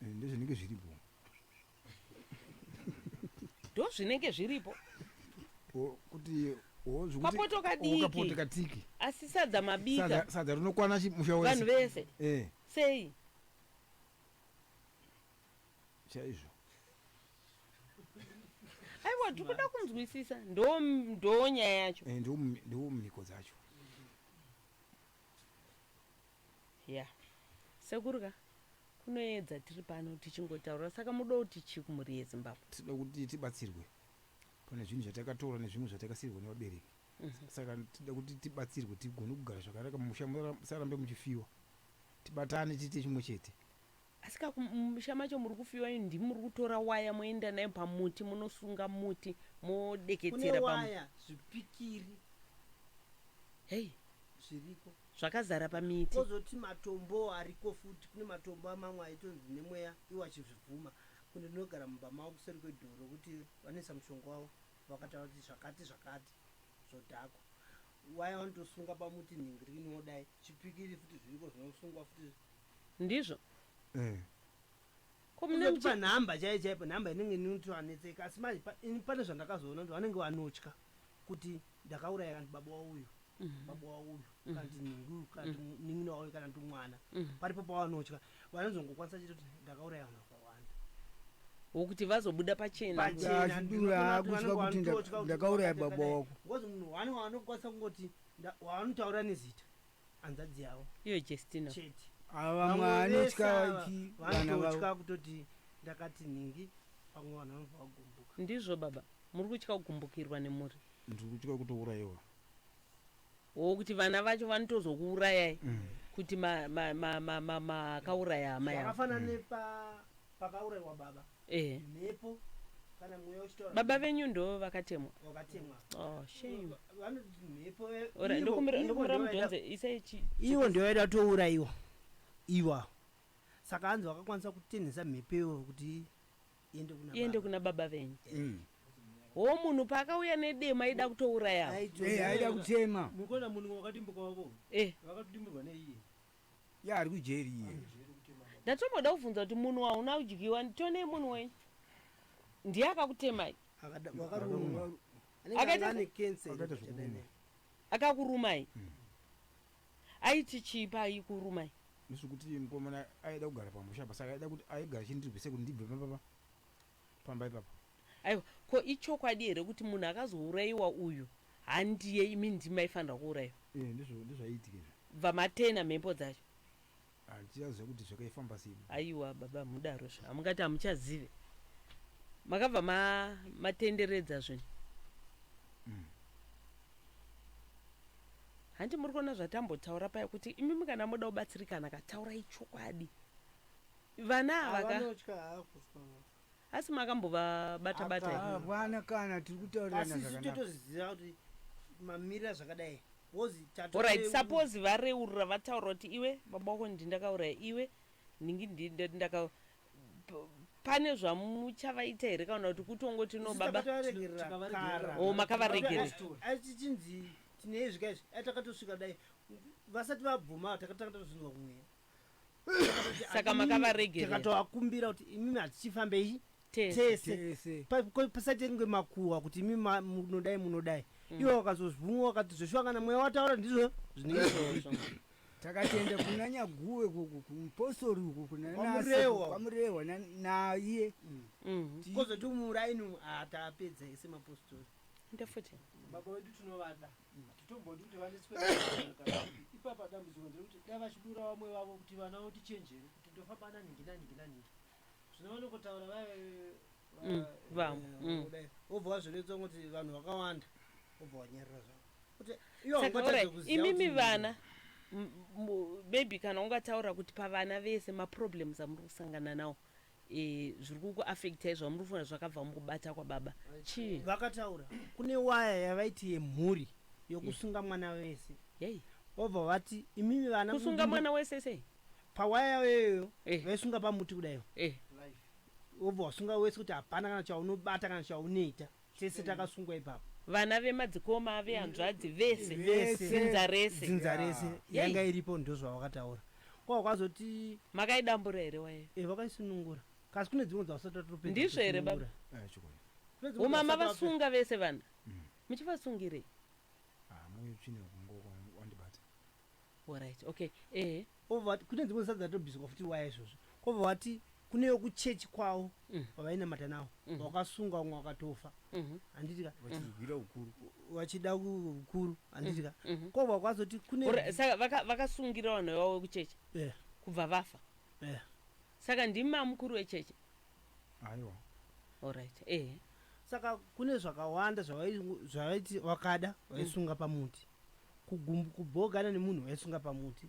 ndozvinenge zviripo ndozvinenge zviripo kuti kapoto kadiki katiki asi sadza mabika sadza rinokwana musha wese vanhu vese eh sei chaizvo aiwa tikuda kunzwisisa ndo ndo nyaya yacho eh ndo ndo mhiko dzacho ya sekuru ka kunoedza tiri pano tichingotaura saka muda kuti chii kumhuri yezimbabwe tinoda kuti tibatsirwe pane zvinhu zvatakatora nezvimwe zvatakasiirwa nevabereki mhm. saka tinoda kuti tibatsirwe tigone kugara zvakanaka mumusha musarambe muchifiwa tibatane tiite chimwe chete Asi ka kumusha macho muri kufiwa imi ndimi muri kutora waya moenda nayo pamuti munosunga muti modeketsera pamuti. Kune waya zvipikiri. Hey. Zviriko. Zvakazara pamiti. Kozoti matombo ariko futi kune matombo amamwe aitonzi nemweya iwo achizvibvuma. Kunde ndinogara mumba mavo kuseri kwedoro kuti vanoisa mushonga wavo vakataura kuti zvakati zvakati zvodhakwa. Waya vanotosunga pamuti nhingiri inodai. Chipikiri futi zviriko zvinosungwa futi. Ndizvo? Eh. Ko mune muchi Unotipa nhamba chaiyo chaipo nhamba inenge inoti vanetseka asi manje pa- ini pane zvandakazoona kuti vanenge vanotya kuti ndakauraya kana kuti baba wauyu baba wauyu kana kuti nhingi uyu kana kuti munin'ina wauyu kana kuti mwana paripo pavanotya vanozongokwanisa chete kuti ndakauraya vanhu vakawanda wokuti vazobuda pachena? Pachena, Achidura, ndinoona kuti akuziva vanenge kuti nda- vanototya kuti ndakauraya baba ndakateka wako. dai. Ngozi munhu wani wanokwanisa kungoti nda- wavanotaura nezita hanzvadzi yavo iyo jestina chete ava Vamwe vese mwanotya ava chi- vana vavo vanototya kutoti ndakati nhingi pamwe vanhu vanobva vagumbuka ndizvo baba muri kutya kugumbukirwa nemhuri ndiri kutya kutourayiwa wo kuti vana vacho vanotozokuurayai kuti makauraya ma, ma, ma, ma, makauraya hama yavo zvakafanana nepa pakauraiwa baba eh. mhepo kana mweya uchitaura baba venyu ndo vakatemwa vakatemwa oh, shame ndokumbira mudhonze isai ivo ndio vaida touraiwa iwa saka anzi vakakwanisa kutenhesa mhepo ivo kuti iende kuna baba venyu mm. ho munhu paakauya nedema aida kutouraya eh, aida kutema mukona munhu wakatimbukavavo eh. vakatodimbirwa neiye Yaa ari kujeri iye. Ndatomboda kubvunza kuti munhu wahuna kudyiwa nditonei munhu wenyu ndiye akakutemai Akada- wakarumwa. Anenge Akaita ane se- cancer iri Akaita kuti zvekubuda. adai. akakurumai aiti chii paikurumai Ndizvo kuti mukomana aida kugara pamusha apa saka aida kuti aigara chindirwise kuti ndibve pamba pa. pamba ipapo. Aiwa ko ichokwadi here kuti munhu akazouraiwa uyu handiye imi ndimi maifanirwa kuuraiwa. Eeh ndizvo ndozvaiitika izvo. Bva matena mhepo dzacho. Handichaziva kuti zvakaifamba sei. Aiwa baba hamudaro zve hamungati hamuchazive makabva ma matenderedza zvinhu. Umm. Hanti muri kuona zvatambotaura paya kuti imimi kana moda kubatsirikana ka taurai chokwadi. Vana ava ka. Vanotya hako. Asi makambovabata bata here? Hapana. Hapana kana tiri kutaurirana Asi isu zvakanaka. totozviziva kuti mamirira zvakadai. Wozi tato. Horaiti suppose vareurura vataura kuti iwe baba wako ndi ndakauraya iwe ndingi ndi ndati ndaka p- pane zvamuchavaita here kana kuti kutongoti no baba Takaregerera Tikavaregerera. kara. Oh, makavaregerera. Asi- Story. Asi tichinzi tine izvi ka izvi. Ai takatosvika dai vasati vabvuma takatanga tatozvinzwa kumweya. saka makavaregerakatovakumbira kuti imimi hatichifambei tese pasati kunge makuhwa kuti imi munodai munodai mm. ivo vakazozvumwa vakati zveshuwa kana mweya wataura ndizvo zvineiizvo takatenda kuna nyaguwe kupostori uku kunanamurehwa naiye mm. mm-hmm. kozoti muraini atapedza ese mapostori ndefuti baba wedu tinovada titomboti kuti vaniswe ipapa dambudziko nderekuti dai vachidura vamwe vavo kuti vana voti chenjere kuti ndofamba naningi naningi naningi zvino vanokotaura vae mm, vamwe eh, mm. kudai vobva vazviletsa kuti vanhu vakawanda vobva vanyarira zvavo imimi vana maybe kana ungataura kuti pavana vese maproblems amuri kusangana nawo e, zviri kuku affectai zvamuri kufunga zvakabva mukubata kwababa chii vakataura kune waya yavaiti yemhuri yokusunga yeah. mwana wese hey. vobva vati imimi vana kusunga mwana wese sei pawaya yavo iyoyo hey. Eh. vaisunga pamuti kudaiwo hey. Eh. vobva wasunga wese kuti hapana kana chaunobata kana chaunoita Tese takasungwa ipapo. Vana vemadzikoma vehanzvadzi vese. Vese. Dzinza rese. Dzinza rese Yei. yanga iripo ndozvavakataura. Kwa kwazoti Makaidambura here waya? eh vakaisunungura. Kasi kune dzimwe dzavasati vatopedza. Ndizvo here, baba? kusunungura. Eh, chokwadi. Kune dzimwe Umama dzavasati vapedza. vasunga vese vana. Muchivasungirei? Ah, mwe tsvina kungo wandibata. Horaiti ok ehe. Obva wati kune dzimwe zita dzatobviswa futi waya izvozvo kobva wati kune vekuchechi kwavo vavainamata navo vakasungwa vamwe vakatofa handiti ka vachizvigwira ukuru vachida ku- ukuru handiti ka kobva kwazoti kune Hora- saka vaka- vakasungira vanhu vavo vekuchechi Eh, kubva vafa eh. saka ndimi mamukuru wechechi aiwa horaiti ehe saka kune zvakawanda zvavai- zvavaiti vakada vaisunga pamuti kugumbu kubhogana nemunhu vaisunga pamuti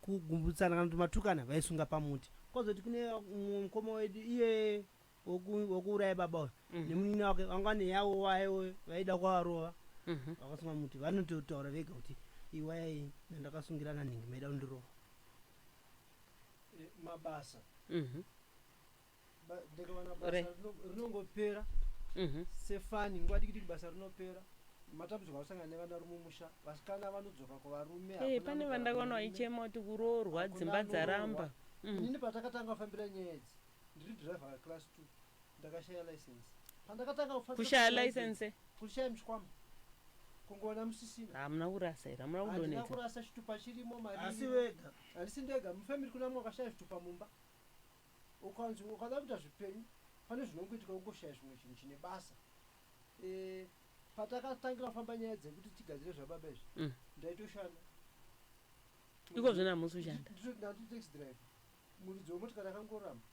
kugumbutsana kana kuti matukana vaisunga pamuti kozoti kune mukoma wedu iye wekuuraya baba uyo mm. nemunini wake vanga vane yavo wayewo vaida kwavarova mhm. vakasunga muti vanototaura vega kuti iwayai nandakasungirana nhingi maida kundirova eh, mabasa mhm. ndikawana basa rinongopera mhm. sefani nguva dikidiki basa rinopera matambudziko akusangana nevana rume musha vasikana vanodzoka kuvarume eh, pane vandakaona vaichema kuti kuroorwa dzimba dzaramba mm. inini patakatanga kufambira nyaya idzi ndiri driver weclass two ndakashaya license pandakatanga kushaya license kushaya mshikwama kungoona musisina hamuna kurasa here hamuna kudonetsa kurasa chitupa chirimo mari asi wega handisi ndega mufamiri kuna mwakashaya zvitupa mumba ukanzi ukada kuita zvipenyu pane zvinongoitika ungoshaya zvimwe chinhu chine basa e, patakatangira kufamba nyaya dzekuti tigadzire zvababa izvi mm. ndaitoshanda iko zvino hamusi kushanda ndandiri taxi driver muridzi wemotikari akangoramba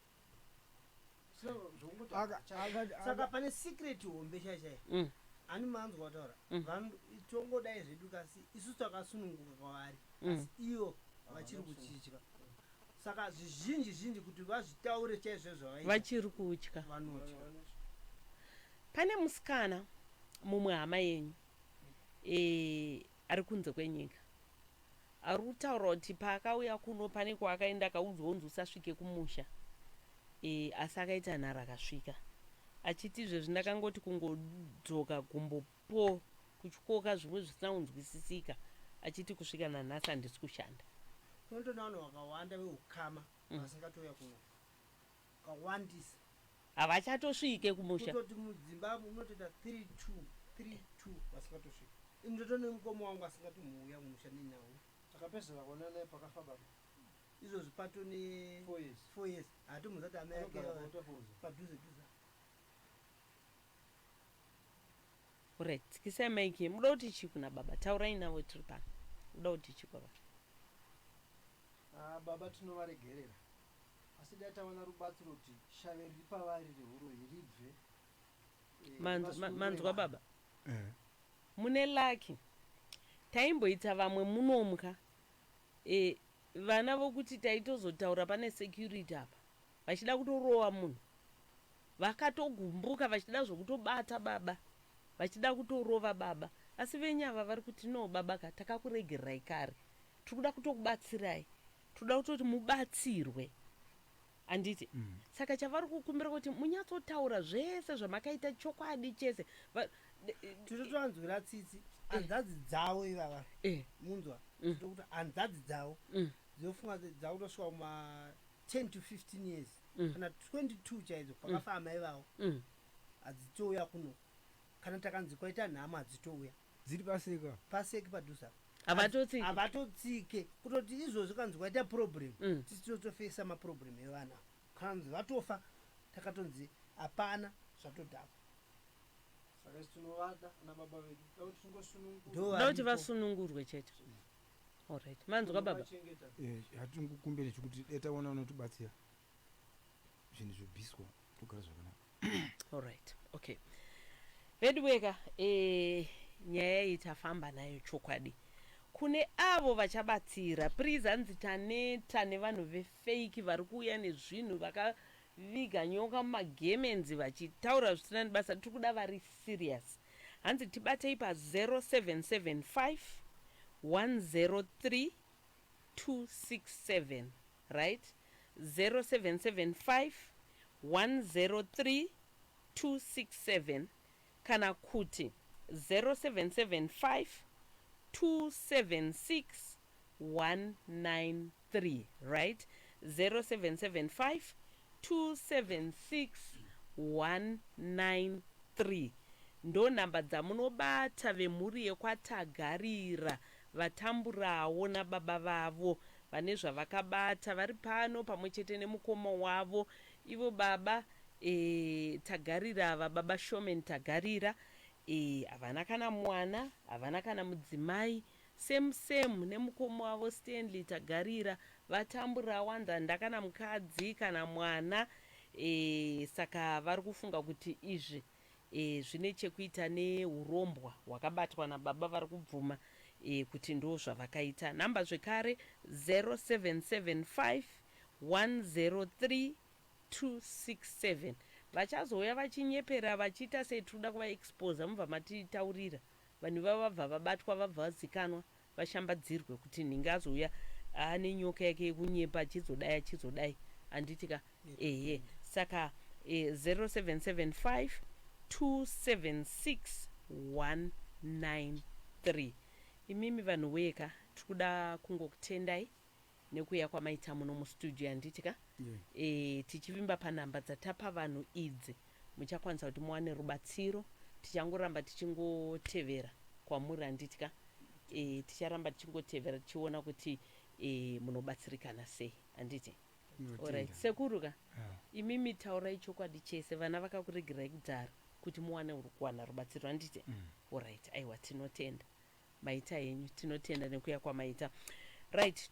saka pane secret hombe chaichai mm. ani manzwa kutaura mm. vanhu tongodai zvedu kasi isu takasununguka kwavari mm. asi iyo vachiri kuchitya Saka zvizhinji zhinji kuti vazvitaure chaizvo zvavaita. Vachiri kutya. Vanotya. Pane musikana mumwe hama yenyu eh ari kunze kwenyika. Ari kutaura kuti paakauya kuno pane kwaakaenda akaudzwa kunzi usasvike kumusha. Eh asi akaita nharo akasvika. Achiti izvezvi ndakangoti kungodzoka gumbo Paul kutyooka zvimwe zvisina kunzwisisika achiti kusvika nanhasi handisi kushanda. Kunotoona vanhu vakawanda vehukama mm. vasingatouya kuno kawandisa havachatosvike kumusha kutoti mudzimba munotoita 32 32 vasingatosvike ini ndotone mukoma wangu asingatomuuya kumusha nenyawu takapedzera kuona naye pakafa baba izvozvi pato ne four years hatombozati amai ake padhuze dhuza Alright, tsikisai mic yenyu. Muda kuti chii kuna baba? Taurai navo tiri pano. Muda kuti chii kwababa? Ah, baba tinovaregerera asi dai tawana rubatsiro kuti shave riri pavari rehuroyi ribve eh, Manzwa- ma- vasunungure manzwa vanhu. baba? Eh. mune laki taimboita vamwe munomwa e, vana vokuti taitozotaura pane security apa vachida kutorova munhu vakatogumbuka vachida zvokutobata baba vachida kutorova baba asi venyu ava vari kuti no baba ka takakuregererai kare tiri kuda kutokubatsirai tinoda kutoti mubatsirwe handiti mm. saka chavari kukumbira kuti munyatsotaura zvese zvamakaita chokwadi chese tiri tonzwira tsitsi eh. hanzadzi dzavo ivava eh. munzwa mm. tokuti hanzadzi dzavo mm. dzinofunga dzakutosvika kuma 10 to 15 years mm. kana 22 chaidzo pakafa mm. amai vavo mm. hadzitouya kuno kana takanzi kwaita nhamo hadzitouya dziri paseka paseki padhuze apa havatotsike havatotsike kutoti izvozvo kanzi kwaita problem mm. tisi tinotofesa maproblem evana kanzi vatofa takatonzi hapana zvatodhakwa ndokuti vasunungurwe chete mm. Alright. Manzwa baba? Eh, hatingokumbire chekuti dai taona unotibatsira zvinhu zvobviswa togara zvakanaka Alright. Okay. Veduweka, eh nyaya iyi tafamba nayo chokwadi. Kune avo vachabatsira, please hanzi taneta nevanhu vefake vari kuuya nezvinhu vaka Viga nyoka mumagemenzi vachitaura zvisina nebasa tiri kuda vari serious hanzi tibatei pa 0775103267 right 0775103267 kana kuti 0775276193 ndo number dzamunobata vemhuri yekwa Tagarira vatamburawo nababa vavo vane zvavakabata vari pano pamwe chete nemukoma wavo ivo baba Eeh tagarira ava baba showman tagarira eeh havana kana mwana havana kana mudzimai same same nemukoma wavo Stanley tagarira vatambura wanda ndakana mukadzi kana mwana eeh saka vari kufunga kuti izvi eeh zvine chekuita nehurombwa hwakabatwa nababa vari kubvuma eeh kuti ndozvavakaita number zvekare 0775 103 267 vachazouya vachinyepera vachiita sei tikuda kuva exposer mubva matitaurira vanhu ivavo vabva vabatwa vabva vazikanwa vashambadzirwe kuti nhingi azouya ane nyoka yake yekunyepa achizodai achizodai handiti ka ehe saka eh, 0775 276193 imimi vanhu weka tikuda kungokutendai nekuuya kwamaita muno mustudio yanditi ka yeah. e, tichivimba panhamba dzatapa vanhu idzi muchakwanisa kuti muwane rubatsiro tichangoramba tichingotevera kwamuri handiti ka e, ticharamba tichingotevera tichiona kuti e, munobatsirikana sei handiti orit sekuru ka ah. imi mitaurai chokwadi chese vana vakakuregerai kudhara kuti muwane kuwana rubatsiro handiti mm. orit aiwa tinotenda maita henyu tinotenda nekuya kwamaita right